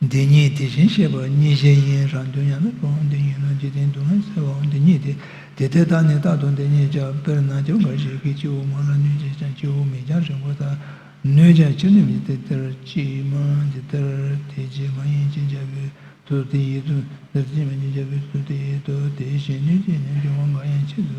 འདི་གཉིས་དེ་བཞིན་གཤེགས་པ་གཉིས་གཞན་ཡིན་རང་དོན་ཡང་ན་སྤོང་འདི་གཉིས་ལ་འཇིག་རྟེན་སྡུག་བསྔལ་སེལ་བའང་འདི་གཉིས་ཏེ། དེ་ལྟའི་རྟགས་ནི་རྟག་ཏུ་འདི་གཉིས་ཀྱང་དཔེར་ན་ཁྱོ་ག་ཞིག་གིས་སྤྱི་བོ་མང་ན་སྣོད་ཀྱིས་ཀྱང་སྤྱི་བོ་མིག་ཀྱང་རིང་པོ་དང། སྣོད་ཀྱང་ཕྱིར་ནུབ་ཡིན་ཏེ་འདིར་གཅིག་མ་འདི་ལྟར་དེ་རྗེས་མ་ཡིན་ཅེས་བྱ་བའི་དོན་དེ་ཡིད་དོ། འདིར་གཅིག་མ་ཅེས་བྱ་བའི་དོན་དེ་ཡིད་དོ། དེ་བཞིན་སྣོད་ཀྱི་ཉམས་ཀྱི་དབང་འགའ་ཡང་ཆེད་དུ་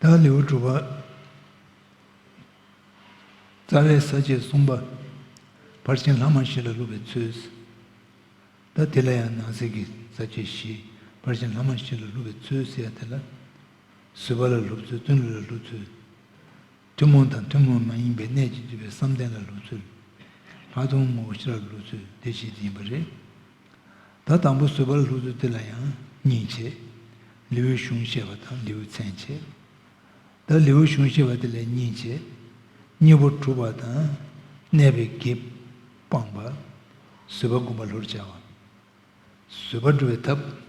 བདག་ལེའུ་དྲུག་པ། རྩ་བའི་ས་བཅད་གསུམ་པ། ཕར་ཕྱིན་ལྷག་མ་བཞི་ལ་སློབ་པའི་ཚུལ། ད་དེ་ལ་ཡང་ནང་གསེས་ཀྱི་ས་བཅད་བཞི། ཕར་ཕྱིན་ལྷག་མ་བཞི་ལ་སློབ་པའི་ཚུལ་ཟེར་ཡ་དེ་ལ། བཟོད་པ་ལ་སློབ་ཚུལ་བརྩོན་འགྲུས་ལ་སློབ་ཚུལ། ཐུན་མོང་དང་ཐུན་མོང་མ་ཡིན་པའི་གནད་ཀྱིས་བསྡུས་པའི་བསམ་གཏན་ལ་ལུས་ཚུལ། ལྷག་མཐོང་ངོ་བོ་ཤེས་རབ་ལ་ལུས་ཚུལ་འདི་བཞི་ཡིན་པ་རེད། ད་དང་པོ་བཟོད་པར་ལྷུ་ཚུལ་དེ་ལ་ཡང་གཉིས་བྱེད། ལེའུའི་གཞུང་བཤད་པ་དང་ལེའུའི་མཚན་བྱེད། ད་ལེའུའི་གཞུང་བཤད་པ་དེ་ལས་གཉིས་བྱེད། གཉིས་པོ་གྲུབ་པ་དང། གནས་པའི་དགེ། སྤངས་པ། བཟོད་པ་བསྒོམ་པ་ལྷུར་བྱ་བ། བཟོད་པ་སྒྲུབ་པའི་ཐབས།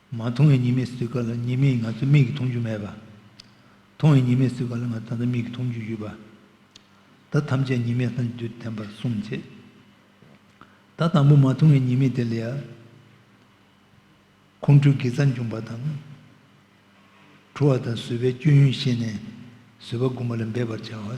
མ་མཐོང་བའི་ཉི་མའི་སྲིད་ཀ་ལ་ཉི་མས་ང་ཚོའི་མིག་གིས་མཐོང་རྒྱུ་མེད་པ། མཐོང་བའི་ཉི་མའི་སྲིད་ཀ་ལ་ང་ད་ལྟ་མིག་གིས་མཐོང་རྒྱུ་ཡོད་པ། ད་ཐམས་ཅད་ཉི་མས་སངས་རྒྱས་བསྟན་པར་གསུངས་རྗེས། ད་དང་པོ་མ་མཐོང་བའི་ཉི་མས་དེ་ལས་ཁོང་ཁྲོའི་དགེ་རྩ་འབྱུང་བ་དང། ཁྲོ་བ་དང་བཟོད་པའི་སྐྱོན་ཡོན་ཤེས་ནས་བཟོད་པ་བསྒོམ་པ་ལ་འབད་པར་བྱའོ།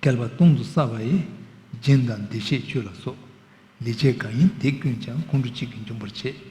བསྐལ་པ་སྟོང་དུ་བསགས་པ་ཡི། སྦྱིན་དང་འདུས་བྱས་བཅུ་ལ་སོགས། ལི་ཆས་གང་ཡིན་དེ་ཀུན་ཀྱང་ཁོང་ཁྲོ་གཅིག་གིས་འཇོམས་པར་བྱེད།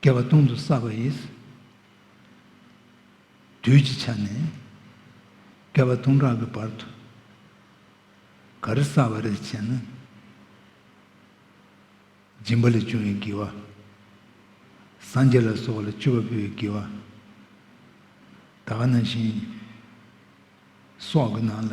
བསྐལ་པ་སྟོང་དུ་བསགས་པ་ཡིས། དུས་ཀྱི་ཆ་ནས་བསྐལ་པ་སྟོང་ཕྲག་གི་བར་དུ། ག་རེ་བསགས་པ་རེད་ཅེ་ན། སྦྱིན་པ་ལས་བྱུང་བའི་བགྱི་བ། སངས་རྒྱས་ལ་སོགས་པ་ལ་སྤྱི་བོར་ཕུལ་བའི་བགྱི་བ། ད་ག་ན་བཞིན་སོགས་ཀྱི་ནང་ལ།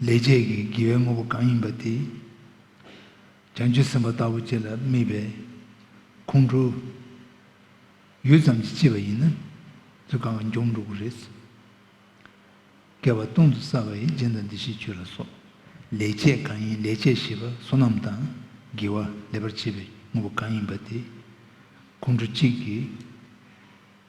ལས་བྱེད་ཀྱི་དགེ་བའི་དངོས་པོ་གང་ཡིན་པ་དེ་བྱང་ཆུབ་སེམས་དཔའ་ལྟ་བུ་ཅིག་ལ་དམིགས་པས་ཁོང་ཁྲོ་ཡུད་ཙམ་གྱིས་སྐྱེས་པ་ཡིན་ན་ཚུལ་གང་གིས་འབྱུང་འགྲོ་གི་རེད། བསྐལ་བ་སྟོང་དུ་བསགས་པ་ཡི་སྦྱིན་དང་འདི་ཞེས་བརྗོད་ལ་སོགས། ལས་བྱེད་གང་ཡིན་ལས་བྱེད་ཞེས་པ་བསོད་ནམས་དང་དགེ་བ་ལས་པར་བྱེད་པའི་དངོས་པོ་གང་ཡིན་པ་དེ་ཁོང་ཁྲོ་གཅིག་གིས།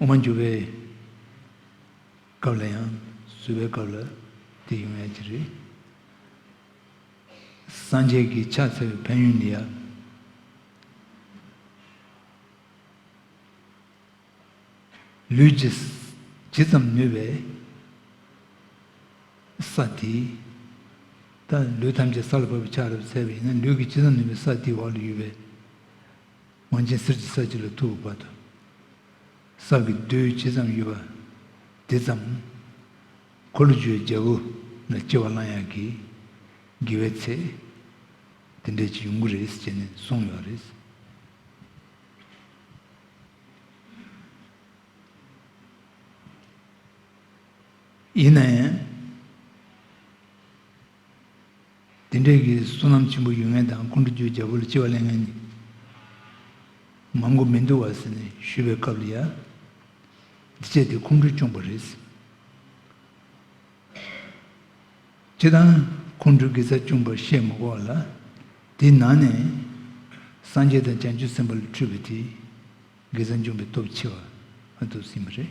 མ་འགྱུར་བའི་སྐབས་ལ་ཡང་གསོད་པའི་སྐབས་ལ་དེ་ཡོང་ཡ་གྱི་རེད། སངས་རྒྱས་ཀྱི་ཕྱག་འཚལ་བའི་ཕན་ཡོན་ནི་ཡང་ལུས་ཀྱི་ཇི་ཙམ་ནུས་པའི་ས་དེའི་ད་ལུས་ཐམས་ཅད་ས་ལ་བབས་པའི་ཕྱག་རབ་འཚལ་བ་ཡིན་ན་ལུས་ཀྱི་ཇི་ཙམ་ནུས་པའི་ས་དེའི་འོག་ལ་ཡོད་པའི། ཝང་ཅན་གསེར་གྱི་ས་གཅིག་ལ་ཐུག་པའི་བར་དུ། སྲང་གི་རྡུལ་ཇི་ཙམ་ཡོད་པ་དེ་ཙམ། འཁོར་ལོ་བཅུའི་རྒྱལ་པོ་ལ་སྐྱེ་བ་བླང་ཡག་གི། དགེ་བའི་ཚེ། དེ་འདྲས་ཀྱི་ཡོང་གི་རེད་ཅེས་ནས་གསུངས་ཡོད་རེད། ཡིན་ན་ཡང། དེ་འབྲེལ་གྱི་བསོད་ནམས་ཆེན་པོ་ཡོད་ངེས་དང་ཀུན་དགའ་བརྒྱུད་རྒྱལ་པོ་ལ་སྐྱེ་བ་གླེང་མཁན་ནི་མང་གོ་མི་འདུག་བ་ཟེར་ནས་ཞུས་པའི་སྐབས་ལ་ཡ། འདི་སྤྱད་དེ་ཁོང་ཁྲོ་སྐྱོང་པ་རེད། སྤྱད་དང་ཁོང་ཁྲོ་གི་ཚ་སྐྱོང་པར་བཤད་མ་གོ་བ་ལ། དེའི་ནང་ནས་སངས་རྒྱས་དང་བྱང་ཆུབ་སེམས་དཔའ་ལ་འཁྲུལ་བའི་དེ་གི་ཚ་འབྱུང་བའི་སྟོབས་ཆེ་བ་ཨ་དུག་སྲིན་པོ་རེད།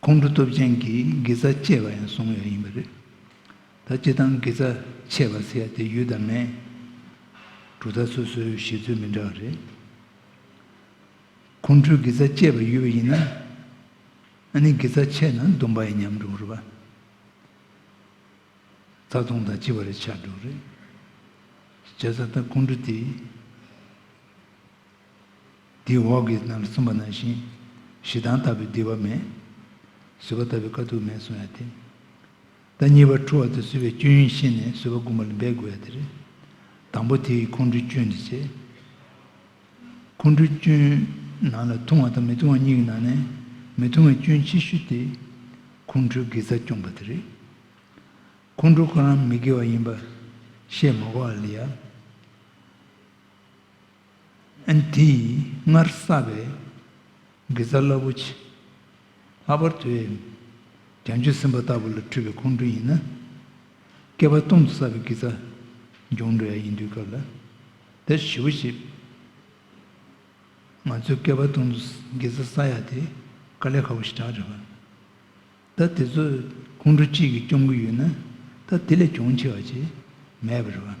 ཁོང་ཁྲོ་སྟོབས་ཅན་གྱི་དགེ་རྩ་གཅེས་པ་ཡང་བཟུང་ཡོད་ཡིན་པ་རེད། ད་སྤྱི་བཏང་དགེ་རྩ་ཆད་པ་ཟེར་ཡ་དེ་ཡུལ་དང་མེད། གྲུབ་མཐའ་སོ་སོའི་བཞེད་ཚུལ་མི་འདྲ་བ་རེད། ཁོང་ཁྲོའི་དགེ་རྩ་གཅེས་པ་ཡོད་པ་ཡིན་ན། ཨ་ནི་དགེ་རྩ་ཆད་ན་སྡུམ་པ་ཡི་ཉམས་འགྲོ་གི་རེད། རྩ་སྟོང་དང་སྤྱི་བར་ཆགས་འགྲོ་གི་རེད། བྱས་ཙང་ད་ཁོང་ཁྲོ་དེ། དེའི་འོག་གི་རྣམས་ལ་གསུམ་པ་ནང་བཞིན། ཞེ་སྡང་ལྟ་བུའི་བདེ་བ་མེད། བཟོད་པ་ལྟ་བུའི་དཀའ་ཐུབ་མེད་གསུངས་ཡ་དེ། ད་གཉིས་པ་འཁྲུལ་བ་དེ་བཟོད་པའི་སྐྱོན་ཡིན་ཤེས་ནས་བཟོད་པ་དགུ་མ་ལ་འབད་དགོས་ཡ་དེ་རེད། དང་པོ་དེ་ཡིས་ཁོང་ཁྲོའི་སྐྱོན་འདི་བྱེད། ཁོང་ཁྲོའི་སྐྱོན། ནང་ལ་ཐུང་བ་དང་མི་ཐུང་བ་གཉིས་ཀྱི་ནང་ནས། མི་ཐུང་བའི་སྐྱོན་ཆེ་ཤོས་དེ། ཁོང་ཁྲོའི་དགེ་རྩ་སྐྱོང་པ་དེ་རེད། ཁོང་ཁྲོ་ཁོ་རང་མི་དགེ་བ་ཡིན་པ། བཤད་མ་གོ་ཨ་ལི་ཡ། ཨན་དེ་ཡིས་སྔར་བསགས་པའི་དགེ་རྩ་རླབས་པོ་ཆེ། ལྷག་པར་དུ་ཨེ་རྒྱ་མཆོད་སེམས་དཔའ་ལྟ་བུ་ལ་འཁྲུལ་པའི་ཁོང་ཁྲོ་ཡིན་ན། བསྐལ་པ་སྟོང་དུ་བསགས་པའི་དགེ་རྩ་འབྱོངས་འགྲོ་ཡ་ཡིན་དུས་སྐབས་ལ་དེར་གཞི་བོ་ཆེ། ང་ཚོས་བསྐལ་པ་སྟོང་དུ་དགེ་རྩ་བསགས་ཡ་དེ་དཀའ་ལས་ཁག་པོ་ཞིག་གྲགས་རེད། ད་དེ་ཚོ་ཁོང་ཁྲོ་གཅིག་གིས་སྐྱོང་གི་ཡོད་ན་ད་དེ་ལས་གྱོང་ཆེ་བ་ཅིག་མེད་པ་རེད།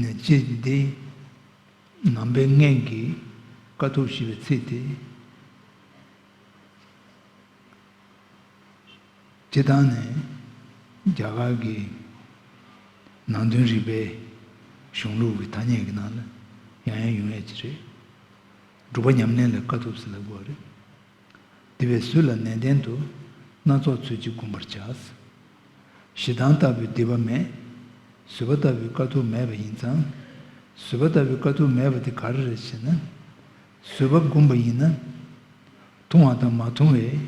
ནས་ཅི་བདེ། ནང་པའི་སྔན་གྱི་དཀའ་ཐུབ་ཞེས་པའི་ཚིག་དེ། སྤྱི་དང་ནས་རྒྱ་གར་གྱི་ནང་དོན་རིག་པའི་གཞུང་ལུགས་ཀྱི་ཐ་སྙད་ཀྱི་ནང་ལ་ཡང་ཡང་ཡོང་ཡས་ཀྱི་རེད། སྒྲུབ་པ་ཉམས་ལེན་ལ་དཀའ་ཐུབ་ཟེར་ལ་དགོས་རེད། དེ་བས་གཟུགས་ལ་ནན་ཏན་དུ། སྣ་ཚོགས་ཚུལ་གྱིས་བསྒོམ་པར་བྱ། ཞེ་སྡང་ལྟ་བུའི་སྡིག་པ་མེད། བཟོད་པ་ལྟ་བུའི་དཀའ་ཐུབ་མེད་པ་ཡིན་ཙང། བཟོད་པ་ལྟ་བུའི་དཀའ་ཐུབ་མེད་པ་དེ་ག་རེ་རེད་ཅེ་ན། བཟོད་པ་བསྒོམ་པ་ཡིན་ན། ཐུང་བ་དང་མ་ཐུང་བའི།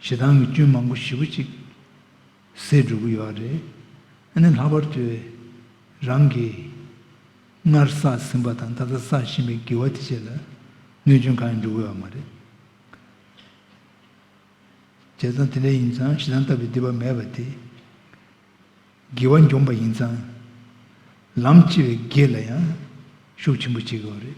ཞེ་སྡང་གི་སྐྱོན་མང་པོ་བཞི་པོ་གཅིག། ཟས་སྒྲུག་གི་ཡོད་རེད། ཨ་ནེ་ལྷག་པར་དུ། རང་གིས། སྔར་བསགས་ཟིན་པ་དང་ད་ལྟ་བསགས་བཞིན་པའི་བགྱི་བ་དེ་བཅས་ལ། གནོད་སྐྱོན་གང་ཡང་འགྲོ་དགོས་བ་མ་རེད། བྱས་ཙང་དེ་འདྲ་ཡིན་ཙང་ཞེ་སྡང་ལྟ་བུའི་སྡིག་པ་མེད་པ་དེ། བགྱི་བ་འཇོམས་པ་ཡིན་ཙང། ལམ་ལྕི་བའི་བགེགས་ལ་ཡང། ཤུགས་ཆེན་པོ་བྱེད་དགོས་བ་རེད།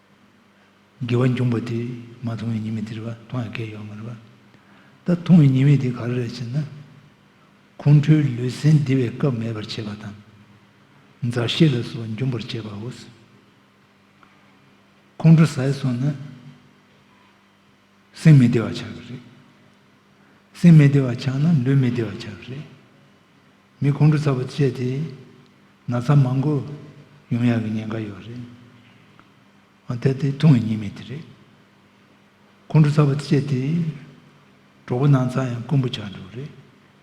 དགེ་བ་འབྱུང་པ་དེས་མ་མཐོང་བའི་ཉེས་དམིགས་དེ་རེ་བ་མཐོང་བའི་སྐལ་ཡོད་མ་རེད། ད་མཐོང་བའི་ཉེས་དམིགས་དེ་ག་རེ་རེད་ཅེ་ན། ཁོང་ཁྲོའི་ལུས་སེམས་བདེ་བའི་སྐབས་མེད་པར་བྱེད་པ་དང། མཛའ་བཤེས་ལ་སོགས་འབྱུང་པར་བྱེད་པའོ། ཁོང་ཁྲོ་ཟད་སོང་ན། སེམས་མི་བདེ་བ་ཆགས་ཀྱི་རེད། སེམས་མི་བདེ་བ་ཆགས་ན་ལུས་མི་བདེ་བ་ཆགས་ཀྱི་རེད། མི་ཁོང་ཁྲོ་ཚ་པོ་སྤྱད་དེ་ན་ཚ་མང་པོ་ཡོང་ཡག་གི་ཉེན་ཁ་ཡོད་རེད། འོན་ཏེ་དེ་ཐུང་བའི་ཉེན་མེད་དེ་རེད། ཁོང་ཁྲོ་ཚ་པོ་སྤྱད་དེ་གྲོགས་པོ་ནང་ཚ་ཡང་དཀོན་པོ་ཆགས་འགྲོ་གི་རེད།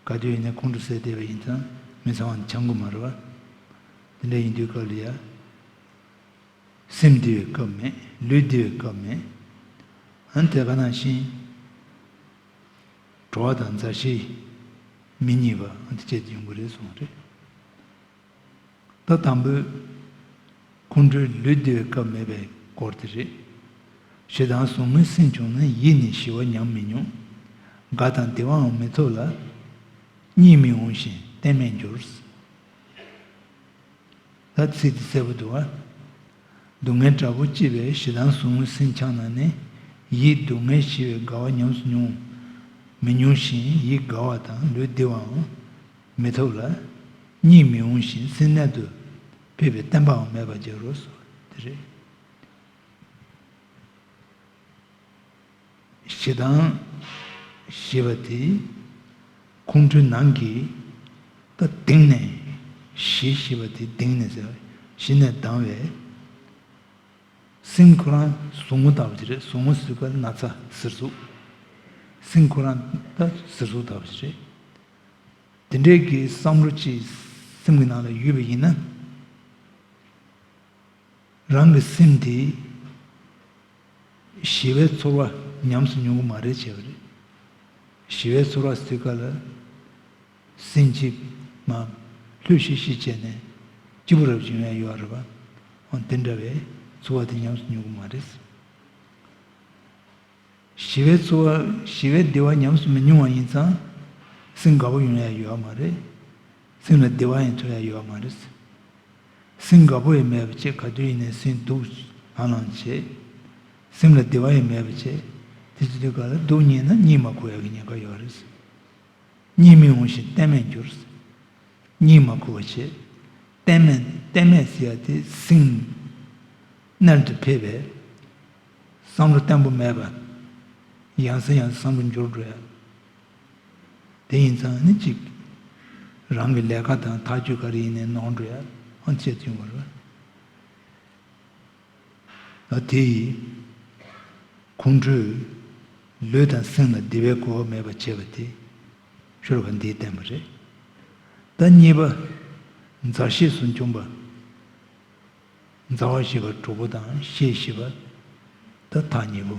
ག་དུས་ཡིན་ན་ཁོང་ཁྲོ་སེལ་བདེ་བ་ཡིན་ཙང་མི་ཚང་བ་འདི་ཆང་གོ་མ་རེད་བ། དེ་འདྲ་ཡིན་དུས་སྐབས་ལ་ཡ། སེམས་འདི་བའི་སྐབས་མེད་ལུས་འདི་བའི་སྐབས་མེད། འོན་ཏེ་བ་ནང་བཞིན། བྲོ་བ་དང་མཛའ་བཤེས་མི་གཉིས་པ་འོན་ཏེ་བཅས་ཡོང་གི་རེད་གསུངས་རེད། ད་དང་པོའི་ཁོང་ཁྲོའི་ལུས་འདི་བའི་སྐབས་མེད་པའི་སྐོར་དེ་རེད། ཞེ་སྡང་ཟུག་རྔུའི་སེམས་བྱུང་ན་ཡིད་ནི་ཞི་བ་ཉམས་མི་མྱོང། དགའ་དང་བདེ་བའང་མི་ཐོབ་ལ། གཉིད་མི་འོང་ཞིང་གཏན་མེད་འགྱུར། ལྷ་ཚིགས་ཀྱི་སྲད་བུ་དུ་བ། སྡུག་བསྔལ་དྲག་པོ་ལྕི་བའི་ཞེ་སྡང་ཟུག་རྔུ་སྲིན་འཕྱང་ན་ནི། ཡིད་སྡུག་བསྔལ་ཞི་བའི་དགའ་བ་ཉམས་སུ་མྱོང། མི་མྱོང་ཞིང་ཡིད་དགའ་བ་དང་ལུས་བདེ་བའང་མི་ཐོབ་ལ། གཉིད་མི་འོང་ཞིང་སྲིན་རྣལ་དུ་ཕེབས་པའི་བསྟན་པའང་མེད་པར་འགྱུར་རོ། དེ་རེད། ཞེ་སྡང། ཞེས་པ་དེ་ཁོང་ཁྲོའི་ནང་གི་ཀ་གདེངས་ནས་ཞི་ཞེས་པ་དེ་གདེངས་ནས་ཟེར་བ་ཞི་ནས་ལྡང་བས་སེམས་ཁོ་རང་ཟུག་ངུ་དག་པ་ཅི་རེད་ཟུག་ངུ་ཟུག་པ་ན་ཚ་གཟེར་ཟུག་སེམས་ཁོ་རང་ད་གཟེར་ཟུག་དག་པ་ཅི་རེད། དེ་འདྲའི་གི་བསམ་བློ་ཅིག་སེམས་གི་ནང་ལ་ཡོད་པ་ཡིན་ན། རང་གི་སེམས་དེ་ཞི་བའི་ཚོར་བ་ཉམས་སུ་མྱོང་གི་མ་རེད་བྱས་པ་རེད། ཞི་བའི་ཚོར་བ་སིལ་ཀ་ལ་སིན་གཅིག་མ་ལྷོད་ཤིག་ཤིག་བྱས་ནས་སྐྱིད་པོ་རབ་བྱུང་ཡ་ཡོད་རེད་པ། འོན་ཏེ་འདྲ་བའི་ཚོར་བ་དེ་ཉམས་སུ་མྱོང་གི་མ་རེད། ཞི་བའི་ཚོར་བ་ཞི་བའི་བདེ་བ་ཉམས་སུ་མི་མྱོང་བ་ཡིན་ཙང་སེམས་དགའ་པོ་ཡོང་ཡ་ཡོད་མ་རེད། སེམས་ལ་བདེ་བ་ཡང་ཐོན་ཡ་ཡོད་མ་རེད། སེམས་དགའ་པོ་ཡི་མེད་པ་ཅེས་ག་དུས་ཡིན་ནའི་སེམས་སྡུག་ལང་ལང་བྱེད། སེམས་ལ་བདེ་བ་ཡི་མེད་པ་ཅེས་དེ་ཅི་དུས་ག་ལ་སྡུག་གཉིད་ན་གཉིད་མ་ཁུག་ཡ་གི་ཉེན་ཁ་ཡོད་རེད། གཉིད་མི་འོང་ཞིང་གཏན་མེད་འགྱུར། གཉིད་མ་ཁུག་བ་ཆེས་གཏན་མེད་གཏན་མེད་ཟེར་ཡ་དེ་སེམས་རྣལ་དུ་ཕེབས་པས། བསམ་བློ་བརྟན་པོ་མེད་པ། ཡང་ཟེར་ཡང་བསམ་བློ་འགྱུར་འགྲོ་ཡ། དེ་ཡིན་ཙང་ནི་གཅིག། རང་གི་ལས་ཀ་དང་ཐག་གཅོད་ག་རེ་ཡིན་ནའི་ནོར་འགྲོ་ཡ་ཨང་ཚད་མཐུན་བར། ཨ་དེ་ཡིས། ཁོང་ཁྲོས། ལུས་དང་སེམས་ལ་བདེ་བའི་གོ་བ་མེད་པར་བྱས་པ་དེ། ཤོར་བ་འདིས་བསྟན་པ་རེད། ད་གཉིས་པ། མཛའ་བཤེས་སུ་འབྱུང་པ། མཛའ་བ་ཞེས་པ་དྲུག་པོ་དང་ཤེས་ཞེས་པ། ད་ཐག་གཉིས་པོ།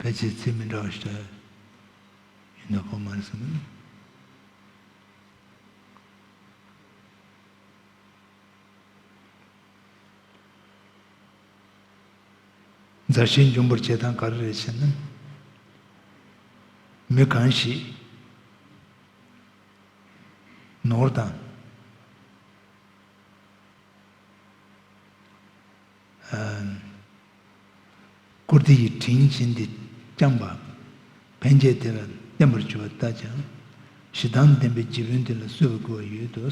ཕལ་ཆེར་ཚིག་མི་འདྲ་བ་ཞིག་ལ་ཡིན་ན་བོགས་མ་རེད་བསམ་གི། མཛའ་བཤེས་འབྱུང་པོར་བྱེད་སྟངས་ག་རེ་རེད་ཅེ་ན། མི་གང་ཞིག་ནོར་དང། བཀུར་སྟི་ཡི་དྲིན་བཞིན་ཏེ་བསྐྱངས་པ། ཕན་བྱས་དེ་ལ་བརྟན་པར་གྱུར་པ་ལྟ་ཅི། ཞེ་སྡང་ལྡན་པའི་རྗེ་བོས་འདི་ལ་གསོལ་བ་བསྐུར་བ་ཡོད་དོ།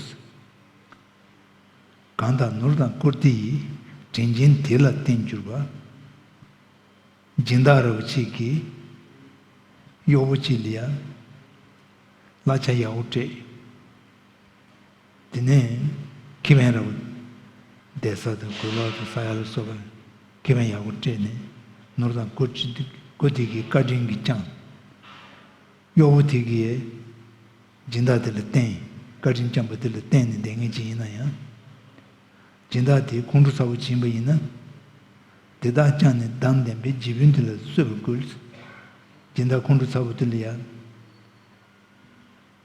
གང་དག་ནོར་དང་བཀུར་སྟི་ཡི་དྲིན་བཞིན་དེ་ལ་བརྟེན་གྱུར་པ། སྦྱིན་བདག་ར་བུ་གཅིག་གིས་གཡོག་པོ་གཅིག་ལ་ཡ། གླ་ཆ་ཡག་པོ་སྤྲད། དེ་ནས་ཁེ་ཕན་ར་བ། འདེད་ས་དང་གོས་ལོག་དང་ས་ཡ་ལ་སོགས་པར་ཁེ་ཕན་ཡག་པོ་སྤྲད་ནས་ནོར་དང་བཀོད་སྒྲིག་གི་བཀའ་དྲིན་གྱིས་བསྐྱངས། གཡོག་པོ་དེ་གིས་སྦྱིན་བདག་དེ་ལ་བརྟེན་བཀའ་དྲིན་བསྐྱངས་པ་དེ་ལ་བརྟེན་ནས་འདེད་ངེས་ཅན་ཡིན་ན་ཡང། སྦྱིན་བདག་དེས་ཁོང་ཁྲོ་ཚ་བོ་བྱིན་པ་ཡིན་ན། དེ་དག་བསྐྱངས་ནས་བདག་འདེམས་པའི་རྗེ་དཔོན་དེ་ལ་གསོད་པར་བསྐུལ། སྦྱིན་བདག་ཁོང་ཁྲོ་ཚ་བོ་དེ་ལ་ཡང།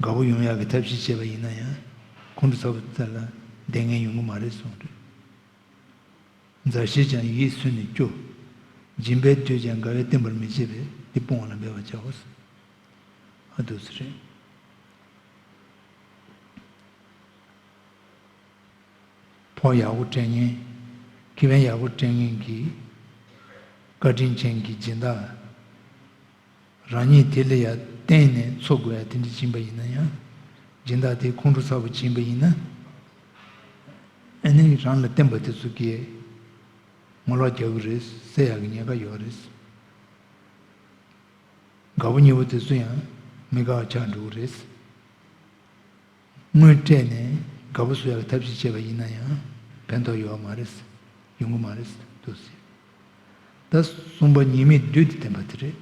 དགའ་བོ་ཡོང་ཡག་གི་ཐབས་ཤེས་བྱས་པ་ཡིན་ན་ཡང་ཁོང་ཁྲོ་ཚ་བོ་དེ་དག་ལ་བདེ་ངན་ཡོང་གི་མ་རེད་གསུངས་དུས། མཛའ་བཤེས་ཀྱང་ཡིད་སུན་ནས་སྐྱོ། སྦྱིན་པས་སྡོད་ཀྱང་དགའ་བས་བསྟེན་པར་མི་བྱེད་པས་འདི་སྤོང་བ་ལ་འབད་པར་བྱའོ་ཟེར། ཨ་དུས་ཚེ་རིང། ཕོ་ཡག་པོ་སྤྲད་ངན། ཁི་བན་ཡག་པོ་སྤྲད་ངན་གྱིས། བཀའ་དྲིན་ཅན་གྱི་སྦྱིན་བདག། རང་ཉིད་དེ་ལ་ཡང་བརྟེན་ནས་འཚོ་དགོས་ཡ་དེ་འདྲ་བྱིན་པ་ཡིན་ན་ཡང། སྦྱིན་བདག་དེ་ཁོང་ཁྲོ་ཚ་བོ་བྱིན་པ་ཡིན་ན་ནི་རང་ལ་བརྟེན་པ་དེ་ཚོ་ཀྱིས་ངོ་ལོག་རྒྱག་གི་རེད་ཟེར་ཡག་གི་ཉེས་ཁ་ཡོད་རེད། དགའ་བོ་ཉེ་བོ་དེ་ཚོ་ཡང་མི་དགའ་བ་ཆགས་འགྲོ་གི་རེད། དངོས་སྤྲད་ནས་དགའ་པོ་བཟོ་ཡག་གི་ཐབས་ཤིག་བྱས་པ་ཡིན་ན་ཡང་ཕན་ཐོག་ཡོད་བ་མ་རེད། ཡོང་གི་མ་རེད་འདུག་ཟེར། ད་གསུངས་པ་ཉེས་མེད་བདུད་དེ་བསྟན་པ་དེ་རེད།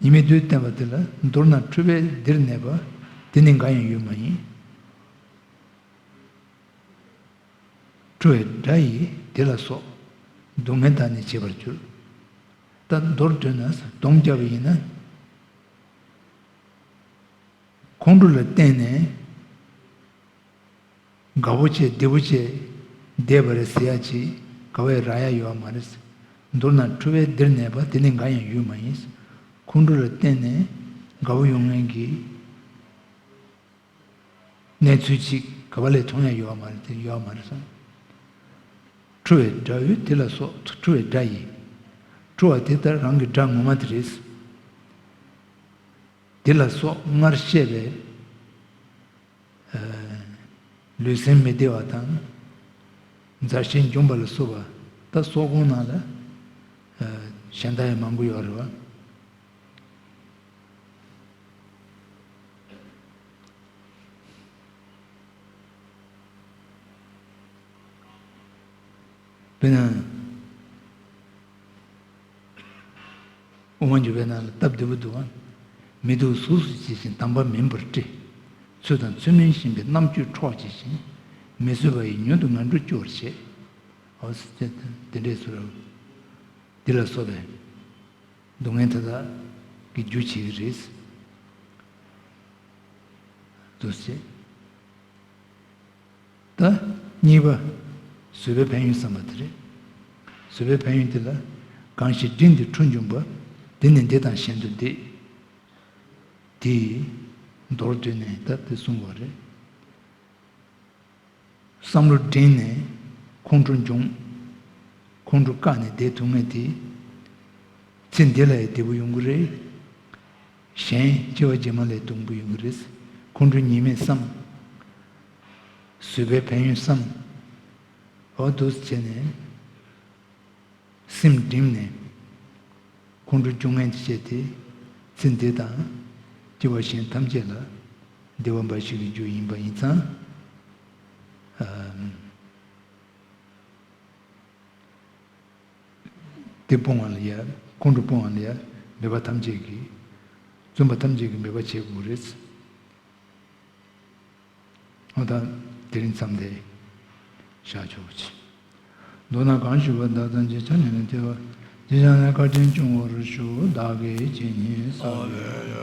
ཉེས་མེད་བདུད་བསྟན་པ་དེ་ལ་མདོར་ན་འཁྲུལ་པའི་སྡེར་གནས་པ་དེ་ནི་འགའ་ཡང་ཡོད་མ་ཡིན། འཁྲུལ་བའི་དགྲ་ཡིས་དེ་ལ་སོགས་སྡུག་བསྔལ་དག་ནི་བྱེད་པར་འགྱུར། ད་མདོར་བསྡུས་ན་གདོང་བསྐྱ་བ་ཡིན་ན། ཁོང་ཁྲོ་ལ་བརྟེན་ནས་དགའ་བོ་བྱེད་བདེ་བོ་བྱེད་བསྡད་པ་རེད་ཟེར་ཡ་ཅིག་དགའ་བའི་ར་ཡ་ཡོད་བ་མ་རེད། མདོར་ན་ཁྲོ་བའི་སྡེར་གནས་པ་དེ་ནི་འགའ་ཡང་ཡོད་མ་ཡིན། ཁོང་ཁྲོ་ལ་བརྟེན་ནས་དགའ་བོ་ཡོང་མཁན་གྱི་གནས་ཚུལ་ཅིག་ག་པ་ལས་མཐོང་ཡ་ཡོད་བ་མ་རེད་དེ་ཡོད་བ་མ་རེད་སོང། ཁྲོ་བའི་སྒྲ་འོད་དེ་ལ་སོགས་ཁྲོ་བའི་སྒྲ་ཡིན། ཁྲོ་བ་དེ་ལྟར་རང་གི་སྒྲ་ངོ་མ་དེ་རེད། འདི་ལ་སོགས་སྔར་བཤད་པའི། ལུས་སེམས་མི་བདེ་བ་དང། མཛའ་བཤེས་འཇོམས་པ་ལ་བསུ་བ། ད་སོགས་གོང་ནང་ལ། གཞན་དག་ཡང་མང་པོ་ཡོད་རེད་བ། དེ་ཡང། དབུ་མ་འཇུག་པའི་ནང་ལ་སྟབས་བདེ་པོ་འདུག་ཨང། མི་སྡུག་གཟུགས་སུ་བྱེད་བཞིན་དམ་པ་མིན་པར་བཀྲི། ཚུལ་དང་ཚུལ་མིན་བཞིན་པའི་རྣམ་དཔྱོད་འཕྲོག་བྱེད་བཞིན། མི་བཟོད་པ་ཡི་ཉོན་དུ་ང་འགྲོ་སྐྱོར་བྱེད། འོ། དེ་འདྲའི་ཚུལ་རོ། འདི་ལ་སོགས་པའི། སྡུག་བསྔལ་མཐའ་དག་གི་རྒྱུ་བྱེད་ཀྱི་རེད། དུ་བྱེད། ད། གཉིས་པ། བཟོད་པའི་ཕན་ཡོན་བསམ་པ་དེ་རེད། བཟོད་པའི་ཕན་ཡོན་འདི་ལ། གང་ཞིག་སྒྲིབ་འདི་འཁྲུ་འབྱུང་པ། འདི་ནི་འདི་དང་གཞན་དུ་འདི། འདི། མདོར་བསྡུས་ནས་ད་འདི་གསུངས་བ་རེད། བསམ་བློ་བསྒྲེངས་ནས། ཁོང་ཁྲོ་འབྱུང། ཁོང་ཁྲོ་བཀག་ནས་བསྡད་ཐུབ་ངེས་འདི། ཚེ་འདི་ལ་ཡི་བདེ་པོ་ཡོང་གི་རེད། གཞན་སྐྱེ་བ་རྗེས་མ་ལས་སྟོང་པའི་འོད་རེད། ཁོང་ཁྲོ་གཉིས་མེད་བསམ། བཟོད་པའི་ཕན་ཡོན་བསམ། འོ་བསྡུ་བྱས་ནས། སེམས་བསྒྲིམས་ནས། ཁོང་ཁྲོ་བཅུ་ལྔན་གྱིས་བཅད་དེ། ཚེ་འདི་དང། སྐྱེ་བ་གཞན་ཐམས་ཅད་ལ། བདེ་བ་འབའ་ཞིག་གི་རྒྱུ་ཡིན་པ་ཡིན་ཙང། འདི་སྤོང་བ་ལ་ཡ། ཁོང་ཁྲོ་སྤོང་བ་ལ་ཡ། མེད་པ་ཐམས་ཅད་ཀྱི། བརྫུན་པ་ཐམས་ཅད་ཀྱི་མེད་པར་བྱེད་དགོས་རེད། ཨོ་ད། དེ་རིང་མཚམས་འདས། ཤར་ཕྱོགས་པོ་ཆེ། མདོར་ན་གང་ཞུ་བ་བདག་དང་རྗེ་བྱང་ནས་ལན་སྟེར་བ། རྗེ་བྱང་ནས་བཀའ་དྲིན་ཆུང་བར་ཞུ་བདག་གི་རྗེ་ཉིད་ས་ལས།